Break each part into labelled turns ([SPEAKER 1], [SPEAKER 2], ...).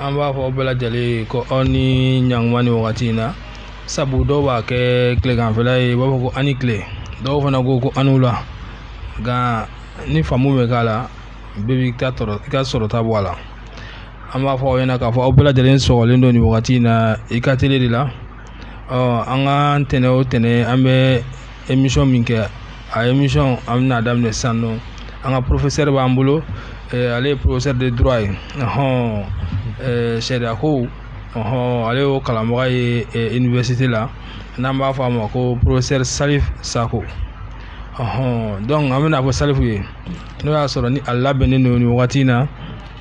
[SPEAKER 1] an b'a fɔ aw bɛɛ lajɛlen ye ko aw ni ɲankuma ni wagati in na sabu dɔw b'a kɛ tileganfɛla ye u b'a fɔ ko aw ni tile dɔw fana ko ko aw ni wula nka ni faamu bɛ k'a la bɛɛ b'i ka sɔrɔta bɔ a la an b'a fɔ aw ɲɛna k'a fɔ aw bɛɛ lajɛlen sɔgɔlen don nin wagati in na i ka tele de la an ka ntɛnɛn o ntɛnɛn an bɛ émission min kɛ a émission an bɛna daminɛ san nɔ an ka professeur b'an bolo ale ye professeur de droit ye hɔn sariya ko ɔɔn ale y'o kalanbaga ye université la n'an b'a fɔ a ma ko professeur salif sako ɔɔn dɔnku an bɛn'a fɔ salifu ye n'o y'a sɔrɔ ni a labɛnnen don nin wagati in na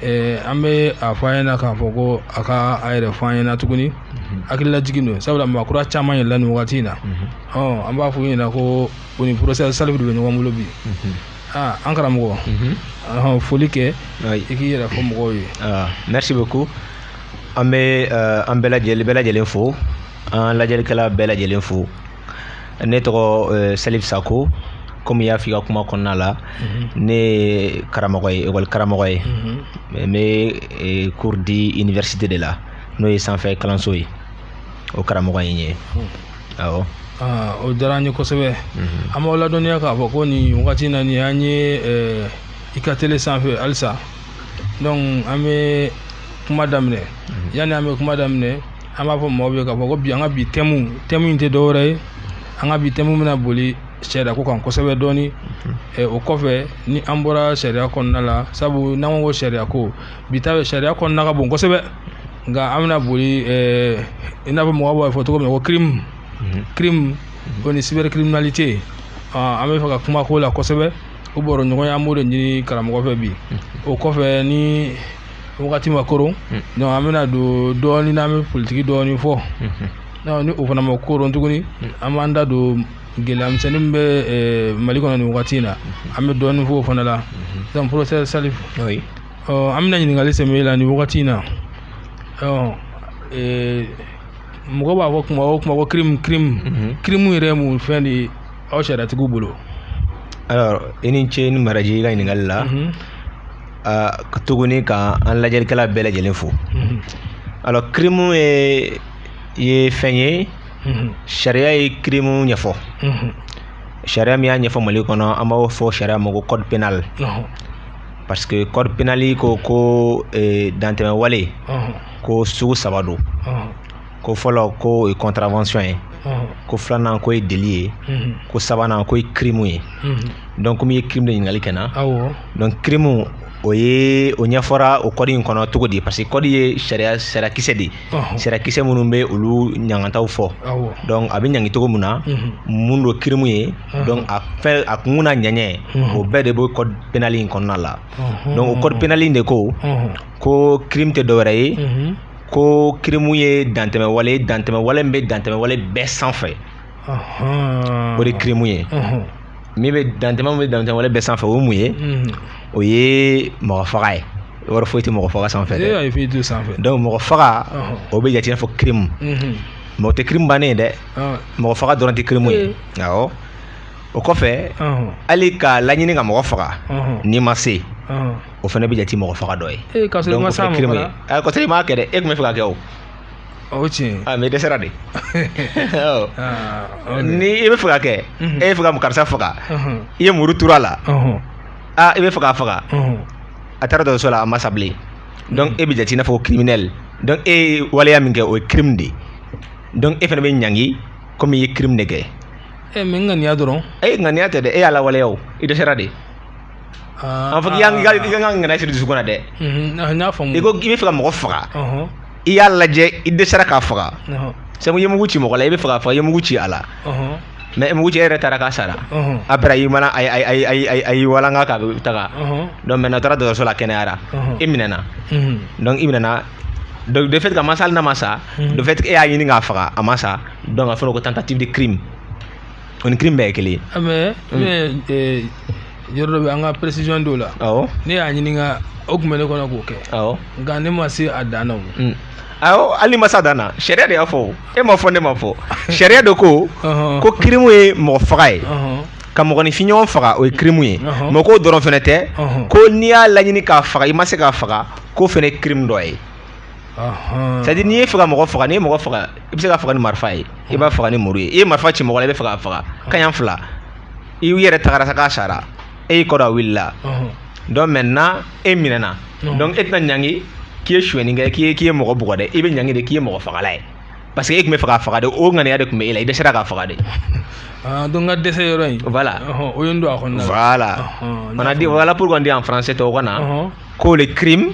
[SPEAKER 1] eh, an bɛ a fɔ a ɲɛna k'a fɔ ko a ka a yɛrɛ fɔ an ɲɛna tuguni mhm. hakililajigin don sabula maakura caman yɛlɛla nin wagati in na mhm. an b'a fɔ u ɲɛna ko u ni professeur salifu de bɛ ɲɔgɔn bolo bi mhm. ah, an karamɔgɔ foli kɛ i k'i yɛrɛ fɔ mɔgɔw ye ah, merci beaucoup
[SPEAKER 2] an bɛ eh, an bɛɛ lajɛlen fo an lajɛlikɛla bɛɛ lajɛlen fo ne tɔgɔ eh, salif sako komi i y'a fɔ i ka kuma kɔnɔna la mhm. ne ye karamɔgɔ ye ekɔli karamɔgɔ ye mhm. n bɛ eh, cours di université de la n'o ye sanfɛ kalanso ye o karamɔgɔ ye n ye hmm. awɔ ah, o
[SPEAKER 1] diyara an ye kosɛbɛ mhm. an b'aw ladɔnniya k'a fɔ ko nin wagati in na nin an ye eh, i ka tele sanfɛ halisa donc an bɛ kuma daminɛ yanni an bɛ kuma daminɛ an b'a fɔ mɔgɔw ye k'a fɔ ko bi an ka bi thème in tɛ dɔwɛrɛ ye an ka bi thème bɛna boli sariya ko kan kosɛbɛ dɔɔni mhm. o kɔfɛ ni an bɔra sariya kɔnɔna la sabu n'an ko ka sariya ko bɛɛ ta sariya kɔnɔna ka bon kosɛbɛ nka an bɛna boli i n'a fɔ mɔgɔw b'a fɔ cogo min na ko crime mhm. crime o ni cybercriminalité an bɛ fɛ ka kuma k'o la kosɛbɛ o baroɲɔgɔnya an b'o de ɲini karamɔgɔ fɛ bi mhm. o kɔfɛ ni wagati ma koron hmm. an bɛna don dɔɔnin n'an bɛ politigi dɔɔnin fɔ hmm. ni o fana ma koron tuguni hmm. an b'an da don gɛlɛyamisɛnnin min bɛ eh, mali kɔnɔ nin wagati in na an bɛ dɔɔnin fɔ o fana la donc professeur salif an bɛna ɲininkali sɛmɛ i la nin wagati in na eh, mɔgɔ b'a fɔ kuma o kuma ko kirimu kirimu kirimu yɛrɛ ye mun fɛn de ye aw sariyatigiw bolo alors
[SPEAKER 2] i ni ce ni baraji i ka ɲininkali la tuguni ka an lajɛlikɛla bɛɛ lajɛlen fo alors kirimu ye ye fɛn ye sariya ye kirimu ɲɛfɔ sariya min y'a ɲɛfɔ mali kɔnɔ an b'o fɔ sariya ma ko code pénal parce que code pénal ko ko dantɛmɛ wale ko sugu saba don ko fɔlɔ ko o ye contravention ye ko filanan ko ye délit ye ko sabanan ko ye crime ye donc komi i ye crime de ɲininkali kɛ n na donc crime o ye o ɲɛfɔra o kɔdi in kɔnɔ cogo di parce que kɔdi ye sariyakisɛ de ye sariyakisɛ minnu bɛ olu ɲangantaw fɔ donc a bɛ ɲangi cogo min na mun don kirimu ye donc a fɛn a kun n'a ɲɛɲɛ o bɛɛ de bɛ kɔdi penali in kɔnɔna la donc o kɔdi penali in de ko ko crime tɛ dɔwɛrɛ ye ko kirimu ye dantɛmɛwale ye dantɛmɛwale min bɛ dantɛmɛwale bɛɛ sanfɛ ɔhɔn. o de ye kirimu ye Ɔhɔn. min bɛ dantɛmɛ min bɛ dantɛmɛwale bɛɛ sanfɛ o ye mun ye Mhm. o ye mɔgɔ faga ye yɔrɔ foyi tɛ mɔgɔ faga sanfɛ ee dɛ ayi foyi t'o sanfɛ donc mɔgɔ faga Ɔhɔn. o bɛ jate i n'a fɔ kirimu Mhm. mais o tɛ kirimu bannen ye dɛ Ɔn. mɔgɔ faga dɔrɔn tɛ kirimu ye awɔ o kɔfɛ Ɔhɔn. hali ka laɲini ka mɔgɔ faga Ɔhɔn. n'i ma se Ɔhɔn. o fana bɛ jate mɔgɔ faga dɔ ye ee k'a sɔrɔ i ma s'a ma
[SPEAKER 1] fana a k'a sɔrɔ i m'a kɛ dɛ
[SPEAKER 2] e tun bɛ fɛ k'a kɛ o o tiɲɛ a mais i dɛsɛra de ni i bɛ fɛ k'a kɛ e bɛ fɛ ka karisa faga i ye muru turu a la aa i bɛ fɛ k'a faga a taara dɔgɔtɔrɔso la a ma sa bilen donc e bɛ jate i n'a fɔ criminel donc e ye waleya min kɛ o ye crime de ye donc e fana bɛ ɲangi komi i ye crime de kɛ e mais
[SPEAKER 1] ŋaniya dɔrɔn e ŋaniya tɛ dɛ e y'a
[SPEAKER 2] lawaleya o i dɛsɛra de Ah, a fɔ k'i y'an ah, k'i ka ŋaniya siri dusukun na dɛ mhm, ah, n y'a faamu i ko k'i bɛ fɛ ka mɔgɔ faga i y'a lajɛ i dɛsɛra k'a faga sabu i ye mugu ci mɔgɔ la i bɛ fɛ k'a faga i ye mugu ci a la mais mugu ci yɛrɛ taara k'a sara après a y'i mana a y'i walanka k'a bɛ taga donc maintenant a taara dɔgɔtɔrɔso la kɛnɛyara i minɛna mhm. donc i minɛna donc de fait que a ma sa hali n'a ma sa mhm. de fait e y'a ɲini k'a faga a ma sa donc a fɔra ko tentative de crime o ni kirimu bɛɛ ye kelen ye ah, mais mm.
[SPEAKER 1] eh, yɔrɔ dɔ bɛ an ka précision dɔw la awɔ ne y'a ɲini ka o tun bɛ ne kɔnɔ k'o kɛ awɔ nka ne ma se a dan na o mm. awɔ hali
[SPEAKER 2] n'i ma se a dan na sariya de y'a fɔ e ma fɔ ne ma fɔ sariya de ko ko kirimu ye mɔgɔ faga ye ka mɔgɔninfin ɲɔgɔn faga o ye kirimu ye mais k'o dɔrɔn fana tɛ ko n'i y'a laɲini k'a faga i ma se k'a faga k'o fana ye kirimu dɔ ye c'est à dire n'i ye fɛ ka mɔgɔ faga n'i ye mɔgɔ faga i bɛ se k'a faga ni marifa ye i b'a faga ni muru ye i ye marifa ci mɔgɔ la i bɛ fɛ k'a faga kaɲa fila i yɛrɛ tagara sa k'a sara e y'i kɔrɔ a wulila donc maintenant e minɛna donc e tɛna ɲangi k'i ye suɲɛni kɛ k'i k'i ye mɔgɔ bugɔ dɛ i bɛ ɲangi de k'i ye mɔgɔ fagala ye parce que e tun bɛ fɛ k'a faga de o ŋaniya de tun bɛ e la i dɛsɛra k'a faga de ah, donc n
[SPEAKER 1] ka dɛsɛ yɔrɔ in voilà o ye n don a
[SPEAKER 2] kɔnɔna
[SPEAKER 1] voilà
[SPEAKER 2] on a dit voilà pourquoi on dit en français tubabukan na ko le crime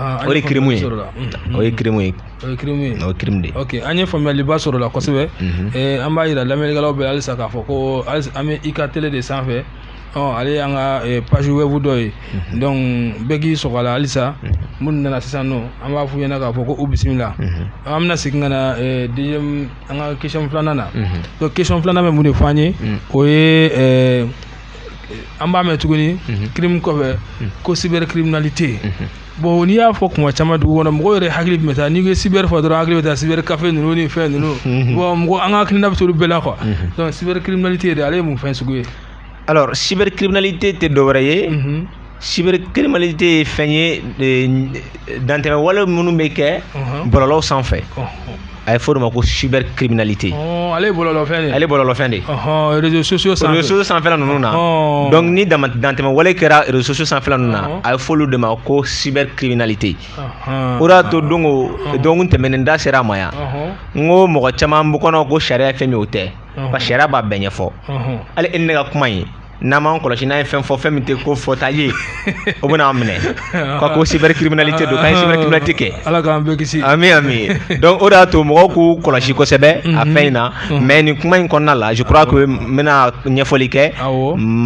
[SPEAKER 2] o de ye kirimu ye o ye kirimu ye o ye kirimu ye o ye kirimu de ye ok an ye faamuyaliba
[SPEAKER 1] sɔrɔ o la kosɛbɛ an b'a yira lamɛnnikɛlaw bɛɛ la halisa k'a fɔ ko an bɛ IK télé de sanfɛ ale y'an ka page web dɔ ye donc bɛɛ k'i sɔgɔ a la halisa minnu nana sisan nɔ an b'a f'u ɲɛna k'a fɔ ko u bisimila an bɛna segin ka na deuxième an ka question filanan na donc question filanan bɛ mun de fɔ an ye o ye an b'a mɛn tuguni mhm. kirimu kɔfɛ mhm. ko cybercriminalité mhm. bon n'i y'a fɔ kuma caman dugu kɔnɔ mɔgɔw yɛrɛ hakili bɛ taa n'i ko cyber fɔ dɔrɔn hakili bɛ taa cyber café ninnu ni fɛn ninnu bon mɔgɔ an ka hakilina bɛ t'olu bɛɛ la quoi donc cybercriminalité de ale ye mun fɛn sugu ye alors cybercriminalité
[SPEAKER 2] tɛ dɔwɛrɛ ye cybercriminalité ye fɛn ye dantɛmɛ wale minnu bɛ kɛ bɔlɔlɔw sanfɛ a ye f'o de ma ko cyber criminalité ɔɔ ale ye bɔlɔlɔ
[SPEAKER 1] fɛn de ale bɔlɔlɔ fɛn
[SPEAKER 2] de ɔhɔn réseaux sociaux
[SPEAKER 1] sanfɛ réseaux sociaux sanfɛla ninnu na
[SPEAKER 2] ɔɔ donc ni dantɛmɛ wale kɛra réseaux sociaux sanfɛla ninnu na ɔhɔn. a ye f'olu de ma ko cyber criminalité ɔhɔn o de y'a to don o don tɛmɛnen da sera a ma yan ɔhɔn n ko mɔgɔ caman b'u kɔnɔ ko sariya ye fɛn min ye o tɛ ɔhɔn. parce que sariya b'a bɛɛ ɲɛfɔ ɔhɔn hali e ni ne ka kuma in n'an m'an kɔlɔsi n'an ye fɛn fɔ fɛn min tɛ ko fɔta ye o bɛna an minɛ ko cyber criminalité don k'an ye cyber criminalité kɛ ala k'an bɛɛ kisi ami
[SPEAKER 1] ami
[SPEAKER 2] donc o de y'a to mɔgɔw k'u kɔlɔsi kosɛbɛ a mhm. fɛn in na mhm. mais nin kuma in kɔnɔna la je crois que n bɛna ɲɛfɔli kɛ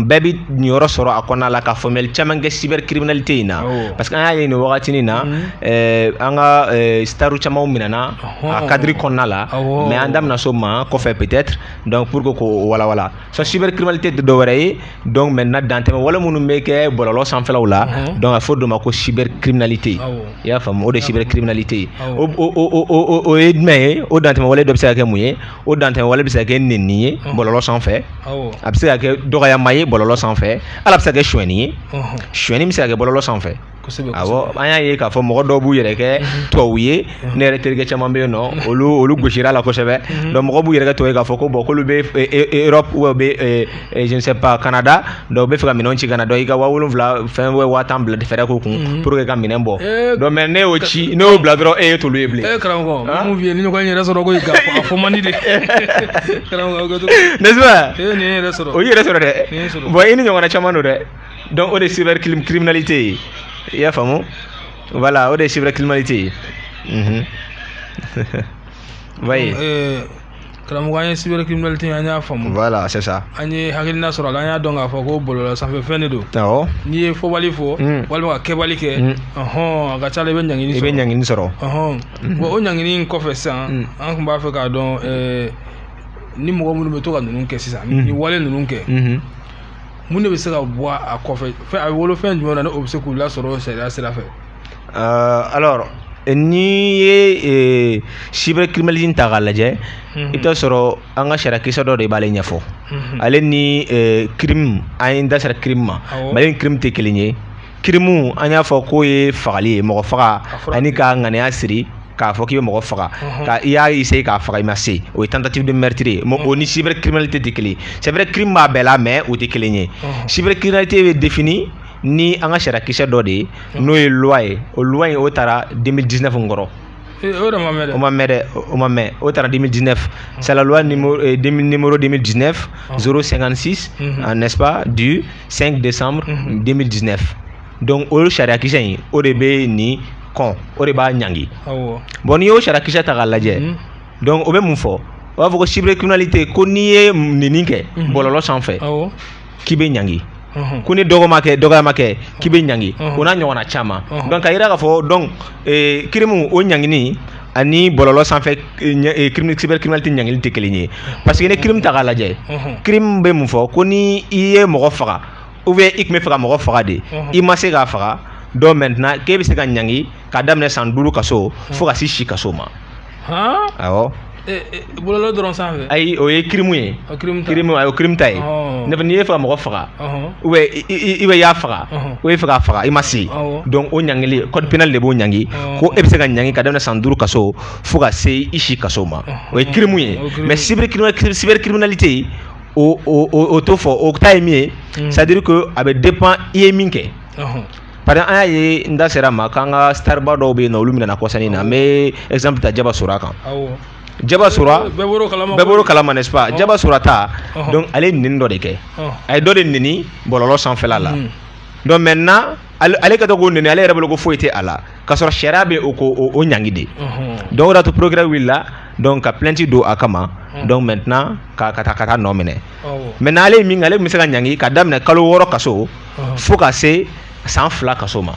[SPEAKER 2] bɛɛ bɛ niyɔrɔ sɔrɔ a kɔnɔna la ka faamuyali caman kɛ cyber criminalité in na parce que an y'a ye nin wagatinin na mhm. eh, an ka eh, staru camanw minɛna a cadre kɔnɔna la mais an da bɛna s'o ma kɔfɛ peut-être donc pour que k'o walawala so cybercriminalité tɛ dɔ wɛrɛ ye donc maintenant dantɛmɛ wale minnu bɛ kɛ bɔlɔlɔ sanfɛlaw la mhm. donc a fɔ dɔ ma ko cybercriminalité i y'a faamu o de cybercriminalité ye o o o o o ye jumɛn ye o dantɛmɛ wale dɔ bɛ se ka kɛ mun ye o dantɛmɛ wale bɛ se ka kɛ nenni ye mhm. bɔlɔlɔ sanfɛ a bɛ se ka kɛ dɔgɔyama ye bɔlɔlɔ sanfɛ ale bɛ se ka kɛ suɲɛni ye suɲɛni bɛ se ka kɛ bɔlɔlɔ sanfɛ an y'a ye k'a fɔ mɔgɔ dɔw b'u yɛrɛ kɛ mhm. tubabu ye mhm. ne yɛrɛ terikɛ caman bɛ yen nɔ mhm. olu olu gosira la kosɛbɛ donc mɔgɔw b'u yɛrɛ kɛ tubabu ye k'a fɔ ko bon k'olu bɛ e, e, e, Europe ou bien je ne sais pas Canada donc u bɛ fɛ ka minɛnw ci ka na donc i ka waa wolonwula fɛn bɛ waa tan bila fɛɛrɛ k'o kun pour que ka minɛn bɔ eh, donc mais n'e y'o ci n'e y'o bila dɔrɔn e ye t'olu ye bilen. ee eh, karamɔgɔ ah? mun f'i ye nin
[SPEAKER 1] ɲɔgɔn yɛrɛ sɔrɔ ko i ka a fɔ man di de karamɔgɔ o kɛ cogo n'est-ce
[SPEAKER 2] pas o y'i
[SPEAKER 1] yɛrɛ sɔrɔ dɛ
[SPEAKER 2] bon i ni ɲɔgɔnna caman dɔn dɛ donc o de cyber criminalité ye i y'a faamu voilà o de cyber criminalité ye unhun oui euh, karamɔgɔ
[SPEAKER 1] an ye cyber criminalité an y'a faamu voilà c'est ça an ye
[SPEAKER 2] hakilina sɔrɔ a
[SPEAKER 1] la an y'a dɔn k'a fɔ ko bɔlɔlɔ sanfɛ fɛn de don awɔ n'i ye
[SPEAKER 2] fɔbali
[SPEAKER 1] fɔ mm. walima ka kɛbali kɛ mm. ɔhɔn a ka ca la i bɛ ɲangini sɔrɔ i bɛ ɲangini sɔrɔ
[SPEAKER 2] ɔhɔn mm-hmm. bon
[SPEAKER 1] o ɲangini in kɔfɛ sisan mm. an tun b'a fɛ k'a dɔn euh, ni mɔgɔ minnu bɛ to ka ninnu kɛ sisan nin wale ninnu kɛ mm-hmm. mun de bɛ se ka bɔ a kɔfɛ a bɛ wolo fɛn jumɛn na ni o bɛ se k'u lasɔrɔ sariya sira
[SPEAKER 2] fɛ. alors n'i ye cyber criminalité ta k'a lajɛ i bɛ taa sɔrɔ an ka sariya kisɛ dɔ de b'ale ɲɛfɔ ale ni crime an ye n da sera crime ma mais ale ni crime tɛ kelen ye. kirimu an y'a fɔ k'o ye fagali ye mɔgɔ faga ani ka ŋaniya siri k'a fɔ k'i bɛ mɔgɔ faga mhm. ka i y'a essayer k'a faga i ma se o ye tentative de meurtre ye mhm. o ni cyber criminalité tɛ kelen ye c'est vrai crime b'a bɛɛ la mais o tɛ kelen ye mhm. cyber criminalité bɛ défini ni an ka sariya kisɛ dɔ de ye n'o ye loi ye o loi in o tara 2019 n kɔrɔ o de ma mɛn dɛ o ma mɛn dɛ o ma mɛn o tara 2019 c'est la loi numéro numéro 2019 056 n'est-ce pas du 5 décembre 2019 mhm. donc o sariyakisɛ in o de bɛ nin kɔn o de b'a ɲangi bon n'i y'o sariyakisɛ ta k'a lajɛ mhm. donc o bɛ mun fɔ o b'a fɔ ko cyber criminalité ko n'i ye neni kɛ mhm. bɔlɔlɔ sanfɛ k'i bɛ ɲangi ko ni dɔgɔma kɛ dɔgɔyama kɛ k'i bɛ ɲangi o n'a ɲɔgɔnna caman donc k'a yira k'a fɔ donc kirimu o ɲangini ani bɔlɔlɔ sanfɛ cybercriminalité ɲangili tɛ kelen ye parce que ni crime ta k'a lajɛ crime bɛ mun fɔ ko ni i ye mɔgɔ faga ou bien i tun b'a fɛ ka mɔgɔ faga de i ma se k'a faga donc maintenant k'e bɛ se ka ɲangi k'a daminɛ san duuru kaso fo ka se si kaso ma awɔ
[SPEAKER 1] bɔlɔlɔ dɔrɔn sanfɛ ayi o ye kirimu
[SPEAKER 2] ye o kirimu ta kirimu ayo kirimu ta ye ne n'i ye faga mɔgɔ faga ou bien i bɛ y'a faga ou i fɛ k'a faga i ma se donc o ɲangili code pénal de b'o ɲangi ko e bɛ se ka ɲangi k'a daminɛ san duuru kaso fo ka se i si kaso ma o ye kirimu ye mais cyber cyber criminalité o o o t'o fɔ o ta ye min ye c'est à dire que a bɛ dépend i ye min kɛ par exemple an y'a ye n da sera a ma k'an ka starba dɔw bɛ yen n'olu minɛna kɔsa in na n bɛ exemple ta Jaba Sora kan Jaba Sora bɛɛ bɔr'o kalama bɛɛ bɔr'o kalama n'est-ce pas Jaba Sora ta Ɔhɔn. donc ale ye neni dɔ de kɛ Ɔhɔn. a ye dɔ de neni bɔlɔlɔ sanfɛla la Mm. donc maintenant ale ale ka to ko neni ale yɛrɛ bolo ko foyi tɛ a la k'a sɔrɔ sariya bɛ o ko o- o ɲangi de Ɔhɔn. donc o de y'a to procureur wulila donc ka plainte don a kama Mm. donc maintenant ka ka taa ka taa nɔ minɛ Awɔ. maintenant ale ye min kɛ ale tun bɛ se ka ɲangi k'a daminɛ kalo wɔɔrɔ kaso Ɔhɔn. fo ka se san fila kaso ma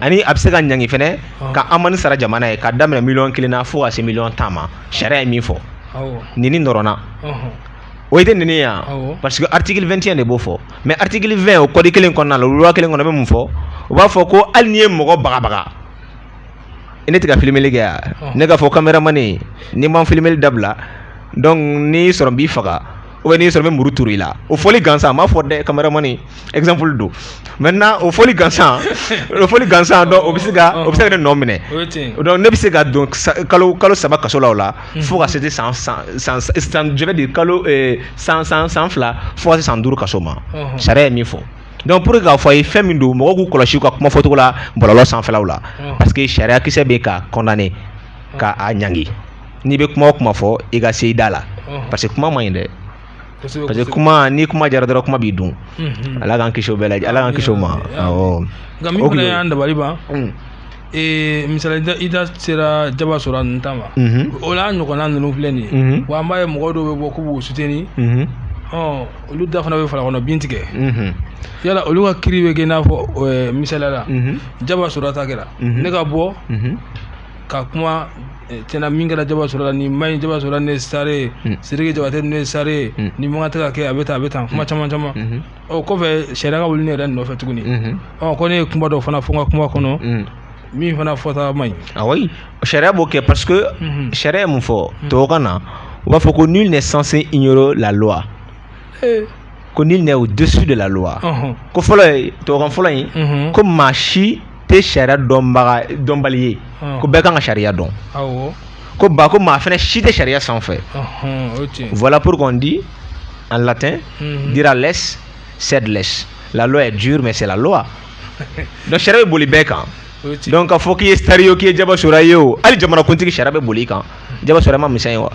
[SPEAKER 2] ani a bɛ se ka ɲangi fana ka amani sara jamana ye k'a daminɛ miliyɔn kelen na fo ka se miliyɔn tan ma sariya ye min fɔ neni dɔrɔn na o ye tɛ neni yan parce que article 21 de b'o fɔ mais article 20 o code kelen kɔnɔna la loi kelen kɔnɔ bɛ mun fɔ o b'a fɔ ko hali n'i ye mɔgɔ bagabaga ne tɛ ka filmeli kɛ yan ne k'a fɔ caméraman n'i ma filmeli dabila donc n'i sɔrɔ n b'i faga ou bien n'i sɔrɔ n bɛ muru turu i la o fɔli gansan n m'a fɔ dɛ caméraman exemple don maintenant o fɔli gansan o fɔli gansan donc o bɛ se ka o bɛ se ka ne nɔ minɛ donc ne bɛ se ka don kalo kalo saba kaso la o la fo ka se te san san san san je veux dire kalo san san san fila fo ka se san duuru kaso ma sariya ye min fɔ donc pour k'a fɔ a ye fɛn min don mɔgɔw k'u kɔlɔsi u ka kuma fɔcogo la bɔlɔlɔ sanfɛlaw la parce que sariya kisɛ bɛ ka condamner k'a ɲangi n'i bɛ kuma o kuma fɔ i ka se i da la parce que kuma man ɲi dɛ parce que kuma ni kuma jara dɔrɔn kuma b'i dun ala k'an kisi bɛɛ lajɛ ala k'an kisi o ma nka min fana y'an
[SPEAKER 1] dabali ban misali i da sera jaba sora ninnu ta ma o la ɲɔgɔnna ninnu filɛ nin ye wa an b'a ye mɔgɔ dɔw bɛ bɔ k'u b'u soutenir olu da fana bɛ fara kɔnɔ bin tigɛ yala olu ka kiiri bɛ kɛ i n'a fɔ misaliya la jaba sora ta kɛra ne ka bɔ ka kuma eh, tiɲɛ na min kɛra jaba sora la nin man ɲi jaba sora ne sare hmm. sidiki jabatɛ ne sare hmm. nin man tɛ ka kɛ a bɛ tan a bɛ tan kuma hmm. caman caman o kɔfɛ sariya ka wuli ne yɛrɛ nɔfɛ tuguni ɔ ko ne ye kuma dɔ fana fɔ n ka kuma kɔnɔ min fana fɔta man ɲi ah oui ah
[SPEAKER 2] sariya b'o kɛ parce que sariya ye mun fɔ tubabukan na u b'a fɔ ko nul n'est censé ignorer la loi eh. ko nul n'est au-dessus de la loi ko fɔlɔ ye tubabukan fɔlɔ in ko maa si tɛ sariya dɔnbaga dɔnbali ye ko bɛɛ kan ka sariya dɔn ko ba ko maa fana si tɛ sariya sanfɛ voilà pourquoi on dit en latin mhm. dura lex sed lex la loi est dure mais c'est la loi donc sariya bɛ boli bɛɛ kan donc k'a fɔ k'i ye star ye o k'i ye jaba sora ye o hali jamanakuntigi sariya bɛ boli i kan jaba sora ma misɛn ye wa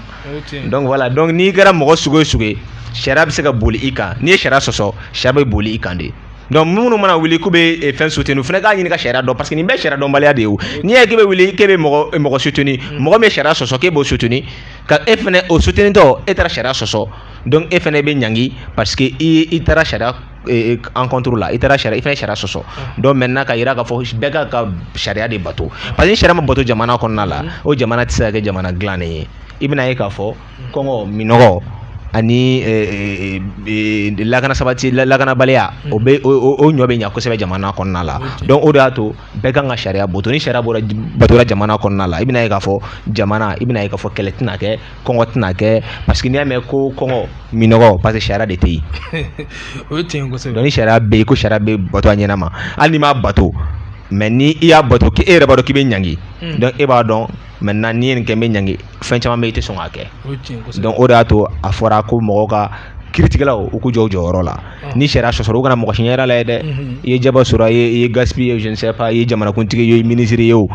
[SPEAKER 2] donc voilà donc n'i kɛra mɔgɔ sugu o sugu ye sariya bɛ se ka boli i kan n'i ye sariya sɔsɔ sariya bɛ boli i kan de donc minnu mana wuli k'u bɛ eh, fɛn soutenir fana k'a ɲini ka sariya dɔn parce que nin bɛɛ sariya dɔnbaliya de ye o n'i y'a ye k'e bɛ wuli k'e bɛ mɔgɔ eh, mɔgɔ soutenir mm. mɔgɔ min ye sariya sɔsɔ k'e b'o soutenir ka e fana o soutenitɔ e taara sariya sɔsɔ donc e fana bɛ ɲangi parce que i i taara sariya eh, encontre la i taara sariya i fana ye sariya sɔsɔ mm. donc maintenant ka jira k'a fɔ bɛɛ ka ka sariya de bato parce que ni sariya ma bato jamana kɔnɔna la mm. o jamana tɛ se ka kɛ jamana dilannen ye i bɛna ye k'a fɔ kɔngɔ minɔgɔ ani eh, eh, eh, lakana sabati lakanabaliya o bɛ o ɲɔ bɛ ɲa kosɛbɛ jamana kɔnɔna la donc o de y'a to bɛɛ kan ka sariya bato ni sariya bɔra batora jamana kɔnɔna la i bɛna ye k'a fɔ jamana i bɛna ye k'a fɔ kɛlɛ tɛna kɛ kɔngɔ tɛna kɛ parce que n'i y'a mɛn ko kɔngɔ minɔgɔ parce que sariya de tɛ yen o
[SPEAKER 1] ye tiɲɛ kosɛbɛ donc ni sariya bɛ yen ko sariya
[SPEAKER 2] bɛ bato a ɲɛnama hali n'i m'a bato mais ni i y'a bato k'e yɛrɛ b'a dɔn k'i bɛ ɲangi donc e b'a dɔn maintenant n'i ye nin kɛ n bɛ ɲangi fɛn caman bɛ i tɛ sɔn k'a kɛ donc o de y'a to a fɔra ko mɔgɔw ka kiiritigɛlaw u k'u jɔ u jɔyɔrɔ la ni sariya sɔsɔra u kana mɔgɔ si ɲɛda lajɛ dɛ i ye jaba sora ye i ye gaspi ye je ne sais pas i ye jamanakuntigi ye minisiri ye o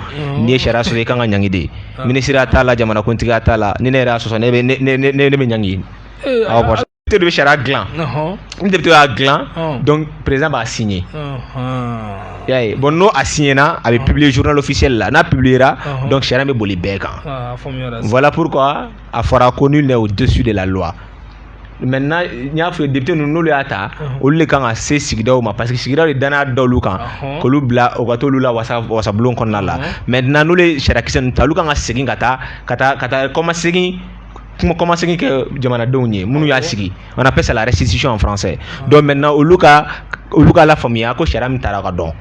[SPEAKER 2] n'i ye sariya sɔsɔ i ka kan ka ɲangi de minisiri t'a la jamanakuntigi t'a la ni ne yɛrɛ y'a sɔsɔ ne bɛ ɲangi de bɛ sariya dilan ni député y'a dilan donc président b'a signer y'a ye bon n'o a signer na a bɛ publier journal officiel la n'a publier ra donc sariya bɛ boli bɛɛ kan voilà pourquoi a fɔra ko nul n'est au-dessus de la loi maintenant n y'a f'i ye député ninnu n'olu y'a ta olu de kan ka se sigidaw ma parce que sigidaw de danaya da olu kan k'olu bila u ka t'olu lawasa wasabulon kɔnɔna la maintenant n'olu ye sariyakisɛ ninnu ta olu kan ka segin ka taa ka taa ka taa kɔmasegin kuma kɔmasegin kɛ jamanadenw ye minnu y'a sigi on appelle ça la restitution en français donc maintenant olu ka olu ka lafaamuya ko sariya min taara k'a dɔn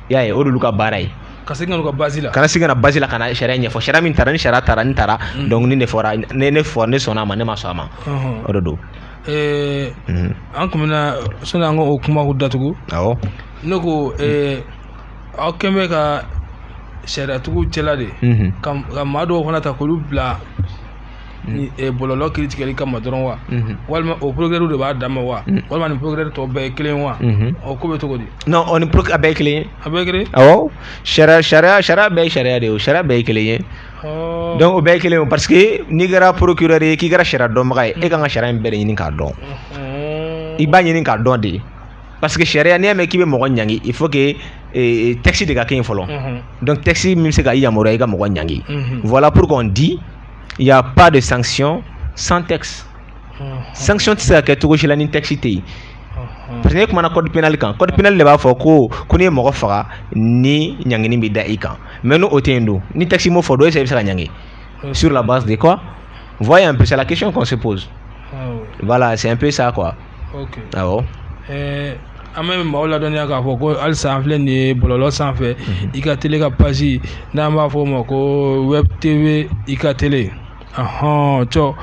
[SPEAKER 2] y'a ye o de olu ka baara ye ka segin ka n'u ka base la
[SPEAKER 1] ka na segin ka na base la ka na
[SPEAKER 2] sariya ɲɛfɔ sariya min taara ni sariya taara ni taara donc ni ne fɔra ne ne fɔ ne sɔnna a ma ne ma sɔn a ma Ɔhɔn. o de don Eh, Mhm.
[SPEAKER 1] an tun bɛna sani an ka o kumaw datugu awɔ ne
[SPEAKER 2] ko
[SPEAKER 1] eh, aw kɛlen bɛ ka sariyatigiw cɛla de ka maa dɔw fana ta k'olu bila bɔlɔlɔ kiritigɛli kama dɔrɔn wa walima o procureur de b'a dama wa walima ni procureur tɔw bɛɛ ye kelen wa o ko bɛ cogo di non o ni a bɛɛ
[SPEAKER 2] kelen a bɛɛ
[SPEAKER 1] kelen
[SPEAKER 2] sariya sariya sariya bɛɛ ye sariya de ye o sariya bɛɛ ye kelen ye donc o bɛɛ kelen parce que n'i kɛra procureur ye k'i kɛra sariya dɔnbaga ye e ka kan ka sariya in bɛɛ de ɲini k'a dɔn i b'a ɲini k'a dɔn de parce que sariya n'i y'a mɛn k'i bɛ mɔgɔ ɲangi il faut que eh, eh, texte de ka kɛ yen fɔlɔ mhm. donc texte min bɛ se ka i yamaruya i ka mɔgɔ ɲangi mhm. voilà pourquoi on dit il y a pas de sanction sans texte mhm. sanction tɛ se ka kɛ cogo si la ni texte tɛ yen parce que ne kumana code pénal kan code pénal de b'a fɔ ko ko n'i ye mɔgɔ faga nin ɲangini bɛ da i kan mais n'o tɛ yen dun ni texte m'o fɔ dun e bɛ se k'a ɲangi sur la base de quoi voyez un peu c'est la question qu'on se pose ah voilà c'est un peu ça quoi
[SPEAKER 1] an bɛ maaw ladɔnniya k'a fɔ ko halisa an filɛ nin ye bɔlɔlɔ sanfɛ i ka télé ka page n'an b'a fɔ o ma ko web tv i ka télé hɔn cɔ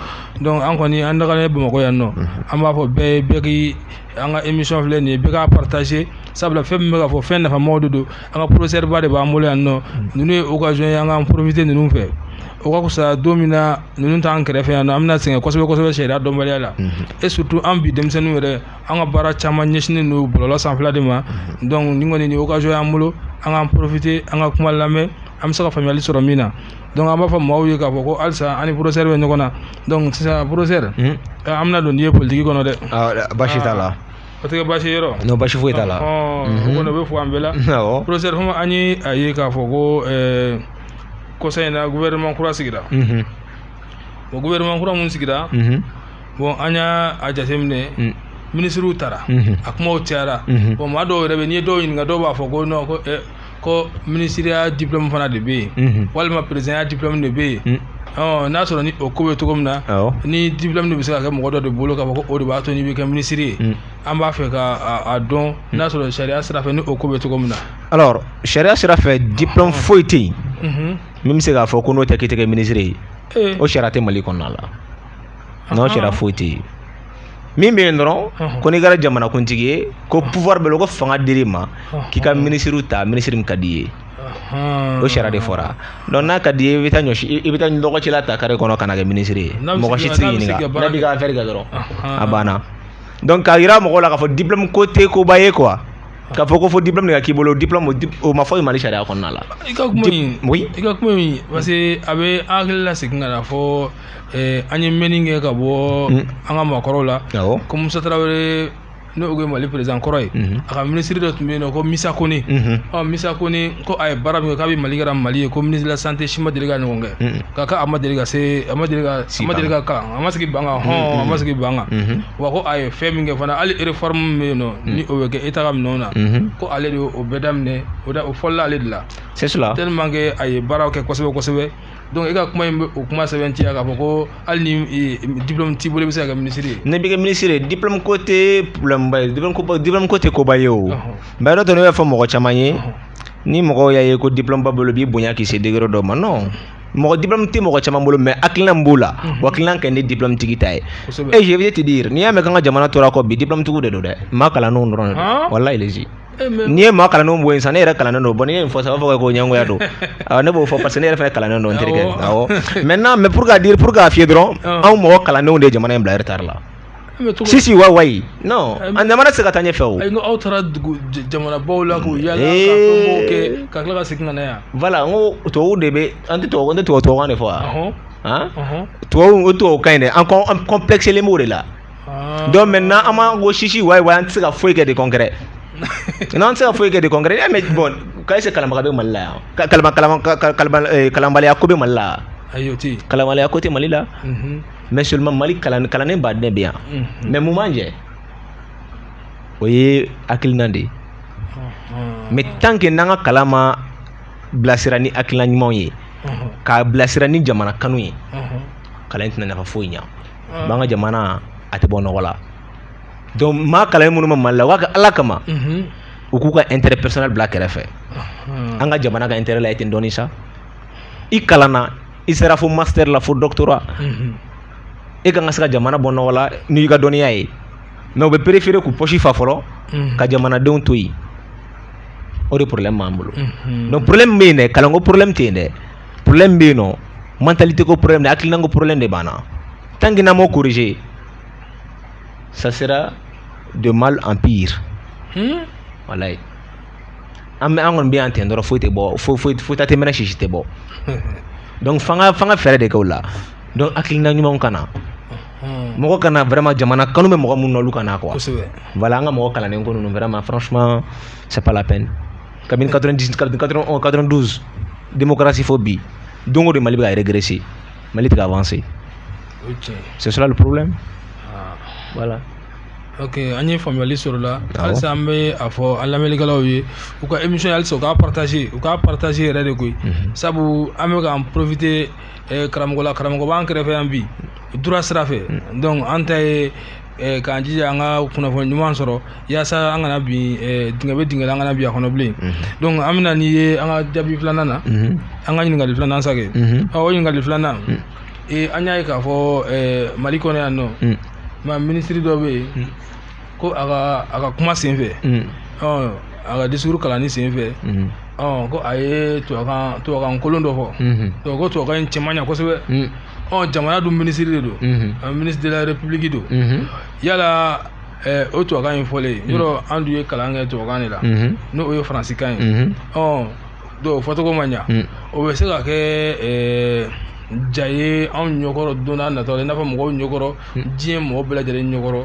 [SPEAKER 1] donc an kɔni an dagalen bɛ bamakɔ yan nɔ an b'a fɔ bɛɛ ye bɛɛ k' an ka émission filɛ nin ye bɛɛ k'a partager sabula fɛn min bɛ ka fɔ fɛn nafamaw de don an ka professeur ba de b'an bolo yan nɔ ninnu ye occasion ye an ka profiter ninnu fɛ o ka fisa don min na ninnu t'an kɛrɛfɛ yan nɔ an bɛna sɛgɛn kosɛbɛ kosɛbɛ sariya dɔnbaliya la et surtout an bi denmisɛnninw yɛrɛ an ka baara caman ɲɛsinnen don bɔlɔlɔ sanfɛla de ma donc nin kɔni nin occasion y'an bolo an k'an profiter an ka kuma lamɛn an bɛ se ka faamuyali sɔrɔ min na donc an b'a fɔ maaw ye k'a fɔ ko halisa an ni professeur bɛ ɲɔgɔn na donc sisan professeur an bɛna don n'i ye politiki kɔnɔ dɛ baasi t'a la
[SPEAKER 2] o tɛ kɛ baasi ye
[SPEAKER 1] yɔrɔ non baasi foyi t'a la
[SPEAKER 2] o kɔni o bɛ
[SPEAKER 1] fɔ an bɛɛ la professeur Fomba an ye a ye k'a fɔ ko kɔsa in na gouvernement kura sigira o gouvernement kura min sigira bon an y'a jateminɛ minisiriw taara a kumaw cayara bon maa dɔw yɛrɛ bɛ n'i ye dɔw ɲininka dɔw b'a fɔ ko ko ko minisiriya diplome fana de bɛ yen walima perezidanya diplome de bɛ yen n'a sɔrɔ ni o ko bɛ cogo min na ni diplome de bɛ se ka kɛ mɔgɔ dɔ de bolo k'a fɔ ko o de b'a to n'i bɛ kɛ minisiri ye an b'a fɛ k'a dɔn n'a sɔrɔ sariya sira fɛ ni o ko bɛ cogo min na alors
[SPEAKER 2] sariya sira fɛ diplome foyi tɛ yen min bɛ se k'a fɔ ko n'o tɛ k'i tɛ kɛ minisiri ye o sariya tɛ mali kɔnɔna la n'o sariya foyi tɛ yen min bɛ yen dɔrɔn ko n'i kɛra jamanakuntigi ye ko pouvoir bɛ ko fanga dir'i ma k'i ka minisiriw ta minisiri min ka d'i ye o sariya de fɔra donc n'a ka d'i ye i bɛ taa ɲɔ i bɛ taa lɔgɔcila ta kare kɔnɔ ka na kɛ minisiri ye mɔgɔ si tɛ se k'i ɲininka n'a b'i ka affaire kɛ dɔrɔn a banna donc k'a jira mɔgɔw la k'a fɔ diplôme ko tɛ koba ye quoi k'a fɔ ko fo diplôme de ka k'i bolo diplôme o ma fɔ mali sariya kɔnɔna la i ka kuma in
[SPEAKER 1] oui i ka kuma in parce que a bɛ an hakili la segin ka na fɔ Ɛɛ an ye mɛnni kɛ ka bɔ an ka maakɔrɔw la ko musa tarawele n'o ye mali perezidan kɔrɔ ye a ka minisiri dɔ tun bɛ yen nɔn ko misa kone misa kone ko a ye baara min kɛ kabi mali kɛra mali ye ko ministre de la santé si ma deli k'a ɲɔgɔn kɛ ka ka a ma deli ka se a ma deli ka kalan a ma sigi banc hɔn a ma sigi banc kan wa ko a ye fɛn min kɛ fana hali réforme min bɛ yen nɔ ni o bɛ kɛ État ka minɛnw na ko ale de o bɛɛ daminɛ o o fɔlɔla ale de la c'est
[SPEAKER 2] tellement que a ye baara
[SPEAKER 1] kɛ kosɛbɛ kosɛbɛ donc e ka kuma in bɛ o kuma sɛbɛntiya k'a fɔ ko hali ni e, diplôme t'i bolo i bɛ se ka kɛ minisiri ye. n'i bɛ kɛ minisiri ye diplôme ko tɛ problème ba ye diplôme ko diplôme ko tɛ koba ye o. mɛ yɔrɔ dɔ ne b'a fɔ mɔgɔ caman ye ni mɔgɔw y'a ye ko diplôme b'a bolo b'i bonya k'i se degré dɔ ma non. mɔgɔ diplôme tɛ mɔgɔ caman bolo mɛ hakilina min b'o la o hakilina ka ɲi ni diplôme tigi ta ye et je vais te dire n'i y'a mɛn k'an ka jamana tora kɔ bi diplôme tigiw de don dɛ maa kalannenw dɔrɔn de don walayi n'i ye maa kalannenw bɔ yen sisan ne yɛrɛ kalannen don bon n'i ye nin fɔ sa a b'a fɔ ko ɲɛngoya don ne b'o fɔ parce que ne yɛrɛ fana kalannen don n terikɛ awɔ maintenant mais pour te dire pour k'a f'i ye dɔrɔn anw mɔgɔ kalannenw de ye jamana in bila retard la sisi wa wayi non a jamana tɛ se ka taa ɲɛfɛ o ayi aw taara dugu jamanabaw la k'u yala ka fɛnw kɛ ka tila ka segin ka na yan voilà n ko tubabuw de bɛ an tɛ tubabu an tɛ tubabu tubabukan de fɔ wa tubabu o tubabukan in dɛ an kɔn an kɔnpilɛkisilen b'o de la ah. donc maintenant an b'an ko sisi wayi wayi an tɛ se ka foyi kɛ de concret n'an tɛ se ka foyi kɛ de concret n'i y'a mɛn bon k'a se kalanbaga bɛ mali la yan kalama kalama kalanbaliya ko bɛ mali la ayi o tɛ yen kalanbaliya ko tɛ
[SPEAKER 2] mali la mɛ seulement mali kalan kalannenba de bɛ yan mɛ mun b'an jɛ o ye hakilina de ye mɛ tant que n'an ka kalan ma bilasira ni hakilina ɲumanw ye k'a bilasira ni jamana kanu ye kalan tɛna nafa foyi ɲa b'an ka jamana a tɛ bɔ nɔgɔ la donc maa kalannen minnu bɛ mali la u k'a kɛ ala kama u k'u ka intérêt personnel bila kɛrɛfɛ an ka jamana ka intérêt lajɛ ten dɔɔnin sa i kalanna i sera fo master la fo doctorat e kan ka se ka jamana bɔ nɔgɔ la n'i ka dɔnniya ye mais u bɛ préférer k'u pɔsi fa fɔlɔ ka jamanadenw to yen o de problème b'an bolo donc problème bɛ yen dɛ kalanko problème tɛ yen dɛ problème bɛ yen nɔ mentalité ko problème de hakilinako problème de b'an na tant que n'an m'o corriger ça sera de mal en pire hmm? walayi an bɛ an kɔni bɛ yan ten dɔrɔn foyi tɛ bɔ foyi foyi foyi ta tɛ mɛnɛ sisi tɛ bɔ donc f'an ka f'an ka fɛɛrɛ de kɛ o la donc hakilina ɲumanw ka na mɔgɔ ka na vraiment jamana kanu bɛ mɔgɔ minnu na olu ka na quoi voilà an ka mɔgɔ kalannen ko ninnu vraiment franchement c'est pas la peine kabini 90 kabini 92 démocratie fo bi don o don mali bɛ ka régresser mali tɛ ka avancer c'est cela le problème ah. voilà ok
[SPEAKER 1] an ye faamuyali sɔrɔ la halisa an bɛ a fɔ an lamɛnnikɛlaw ye u ka émission halisa u k'a partager u k'a partager yɛrɛ de koyi mhm. sabu an bɛ k'an profiter eh, karamɔgɔ la karamɔgɔ b'an kɛrɛfɛ yan bi droit sira fɛ mhm. donc an ta ye k'an jija an ka kunnafoni ɲuman sɔrɔ yaasa an kana bin dingɛ bɛ dingɛ la an kana bin a kɔnɔ bilen donc an bɛ na n'i ye an ka jaabi filanan na an ka ɲininkali filanan na sake ɔ o ɲininkali filanan an y'a ye k'a fɔ mali kɔnɔ yan nɔ nka minisiri dɔ bɛ yen ko a ka a ka kuma senfɛ ɔ a ka disuru kalanni senfɛ ɔ ko a ye tubabukan kolon dɔ fɔ ko tubabukan in cɛ ma ɲa kosɛbɛ ɔ jamana dun minisiri de don ministre de la république don yala o tubabukan in fɔlen yɔrɔ an dun ye kalan kɛ tubabukan de la n'o ye faransikan ye ɔ dɔw fɔcogo ma ɲa o bɛ se ka kɛ ja ye anw ɲɛkɔrɔ don nataw la i n'a fɔ mɔgɔw ɲɛkɔrɔ diɲɛ mɔgɔ bɛɛ lajɛlen ɲɛkɔrɔ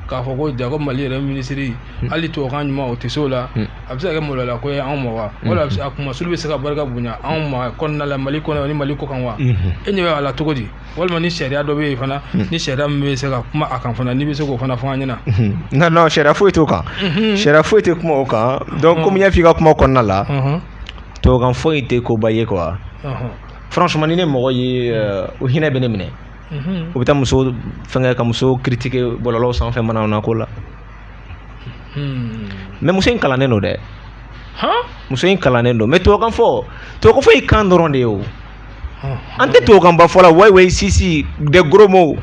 [SPEAKER 1] k'a fɔ ko jaa ko mali yɛrɛ minisiri hmm. hali tubabukan ɲuman o tɛ se o la hmm. a bɛ se ka kɛ maloyala ko ye anw ma wa wala hmm. a kuma sugu bɛ se ka barika bonya anw ma kɔnɔna la mali kɔnɔ ni mali kɔkan wa e ɲɛ bɛ a la cogo di walima ni sariya dɔ bɛ yen fana ni sariya min bɛ se ka kuma a kan fana n'i bɛ se k'o fana fɔ an ɲɛna nka non sariya
[SPEAKER 2] foyi t'o kan sariya foyi tɛ kuma o kan donc komi i y'a f'i ka kuma kɔnɔna la tubabukan fɔli tɛ koba ye quoi franchement ni ne mɔgɔ ye euh, o hinɛ bɛ ne minɛ u bɛ taa muso fɛngɛ ka muso critiquer bɔlɔlɔw sanfɛ manamana ko la hmm. mɛ muso in kalannen don dɛ muso in kalannen don mɛ tubabukan fɔ tubabukan fɔ ye kan dɔrɔn de ye o an tɛ tubabukan ba fɔ la wayi wayi sisi de gros mots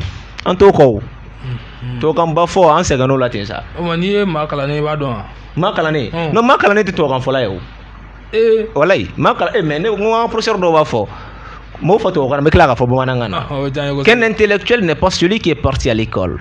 [SPEAKER 2] an t'o kɔ o hmm. tubabukan ba fɔ an sɛgɛnn'o la ten sa n'i ye maa kalannen
[SPEAKER 1] i b'a dɔn wa maa kalannen
[SPEAKER 2] hmm. non maa kalannen tɛ tubabukan fɔla ye o eh. walayi maa kalan eh, mɛ ne ko n ka professeur dɔ b'a fɔ n b'a fɔ tubabukan na n bɛ tila k'a fɔ bamanankan na. Qu'un intellectuel n'est pas celui qui est parti à l'école.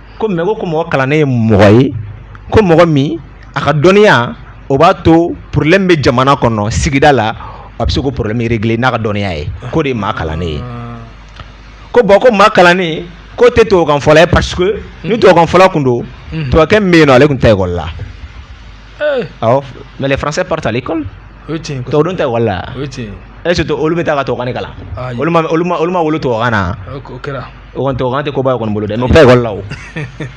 [SPEAKER 2] ko mɛ ko ko mɔgɔ kalannen ye mɔgɔ ye ko mɔgɔ min a ka dɔnniya o b'a to problème bɛ jamana kɔnɔ sigida la a bɛ se k'o problème régler n'a ka dɔnniya ye k'o de ye maa kalannen ye ko bon ko maa kalannen ko tɛ tubabukan fɔla ye parce que ni tubabukan fɔla tun don tubabukɛ bɛ yen ale tun tɛ taa ekɔli la mɛ les français partent à l'école tubabuw tɛ taa ekɔli la est-ce que olu bɛ taa ka tubabukan kalan olu olu ma wolo tubabukan na
[SPEAKER 1] O kɔni tubabukan tɛ
[SPEAKER 2] koba ye u kɔni bolo dɛ n'o tɛ ekɔli la o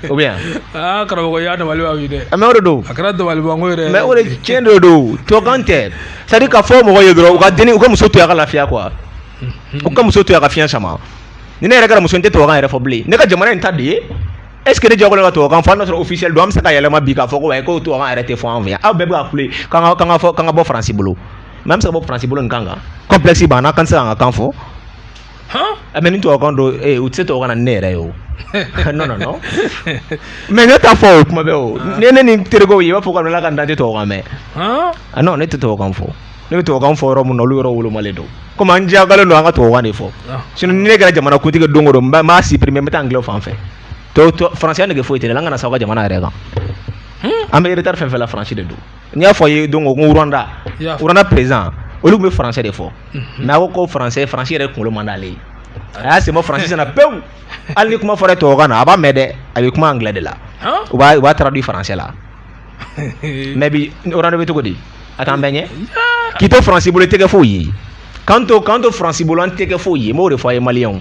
[SPEAKER 2] ou bien aa karamɔgɔ i
[SPEAKER 1] y'a dabali ban bi dɛ mais o de don a
[SPEAKER 2] kɛra dabalibanko ye
[SPEAKER 1] dɛ mais o de tiɲɛ de
[SPEAKER 2] don tubabukan tɛ c'est à dire k'a fɔ mɔgɔw ye dɔrɔn u ka denni u ka muso to yen a ka lafiya quoi u ka muso to yen a ka fiɲɛ sama ni ne yɛrɛ kɛra muso ye n tɛ tubabukan yɛrɛ fɔ bilen ne ka jamana in ta de ye est ce que ne diyagoyalen don ka tubabukan fɔ hali n'a sɔrɔ officiel don an bɛ se k'a yɛlɛma bi k'a fɔ ko ayi ko tubabukan yɛrɛ tɛ fɔ an fɛ yan aw bɛɛ bɛ ka kule k'an ka k'an ka fɔ k'an ka bɔ faransi bolo mais an bɛ se ka bɔ faransi bolo nin kan kan complexe b'an na k'an tɛ se k'an ka kan fɔ Ah, mɛ ni tubabukan don eh, u tɛ se tubabukan na ne yɛrɛ ye o non non non mɛ ne t'a fɔ kuma bɛɛ o ah. ne ne ni terikɛw ye i b'a fɔ k'an na kelen dan tɛ tubabukan mɛn ah. ah non ne tɛ tubabukan fɔ ne bɛ tubabukan fɔ yɔrɔ min na olu yɔrɔ wolomalen don komi an diyagoyalen don an ka tubabukan de fɔ sinon ni ne kɛra jamana kuntigi don o don n b'a supprimer n bɛ taa anglais fan fɛ faransɛ nege foyi tɛ ne la an kana sa aw ka jamana yɛrɛ kan hmm? an bɛ retard fɛn fɛn la faransi de don n y'a fɔ a ye donc ko Rwanda Rwanda perezidan olu tun bɛ faransɛ de fɔ mhm. mɛ a ko ko faransɛ faransi yɛrɛ kunkolo man d'ale ye a y'a senbɔ faransi na pewu hali ni kuma fɔra tubabukan na a b'a mɛn dɛ a bɛ kuma anglais de la u b'a u b'a traduit faransɛ la mɛ bi Rwanda bɛ cogo di a t'an bɛɛ ɲɛ k'i to faransi bolo i tɛ kɛ foyi ye k'an to k'an to faransi bolo an tɛ kɛ foyi ye n b'o de fɔ a ye maliyɛnw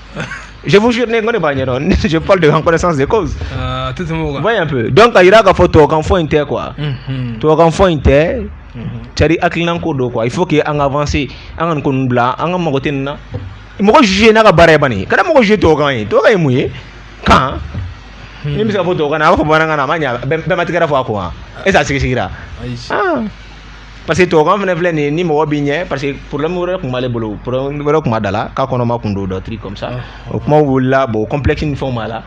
[SPEAKER 2] Je vous jure, ne ko ne b'a ɲɛdɔn ne je parle de en connaissance de cause ah, tɛ tɛmɛ o kan voyez un peu donc k'a jira k'a fɔ tubabukanfɔ in tɛ quoi unhun tubabukanfɔ in tɛ c'est à dire hakilinanko don quoi il faut que an ka avancer an ka nin ko ninnu bila an ka mago tɛ nin na mɔgɔ juger n'a ka baara ye bani kana mɔgɔ juger tubabukan ye tubabukan ye mun ye kan min bɛ se ka fɔ tubabukan na a b'a fɔ bamanankan na a ma ɲɛ bɛɛ bɛɛ ma tigɛra fɔ a ko wa est ce que a sigisigira ayi ah parce que tubabukan fana filɛ nin ye ni mɔgɔ b'i ɲɛ parce que problème wɛrɛ tun b'ale bolo problème wɛrɛ tun b'a da la k'a kɔnɔma kun don des trucs comme ça o kumaw wulila bon complexe ni fɛnw b'a la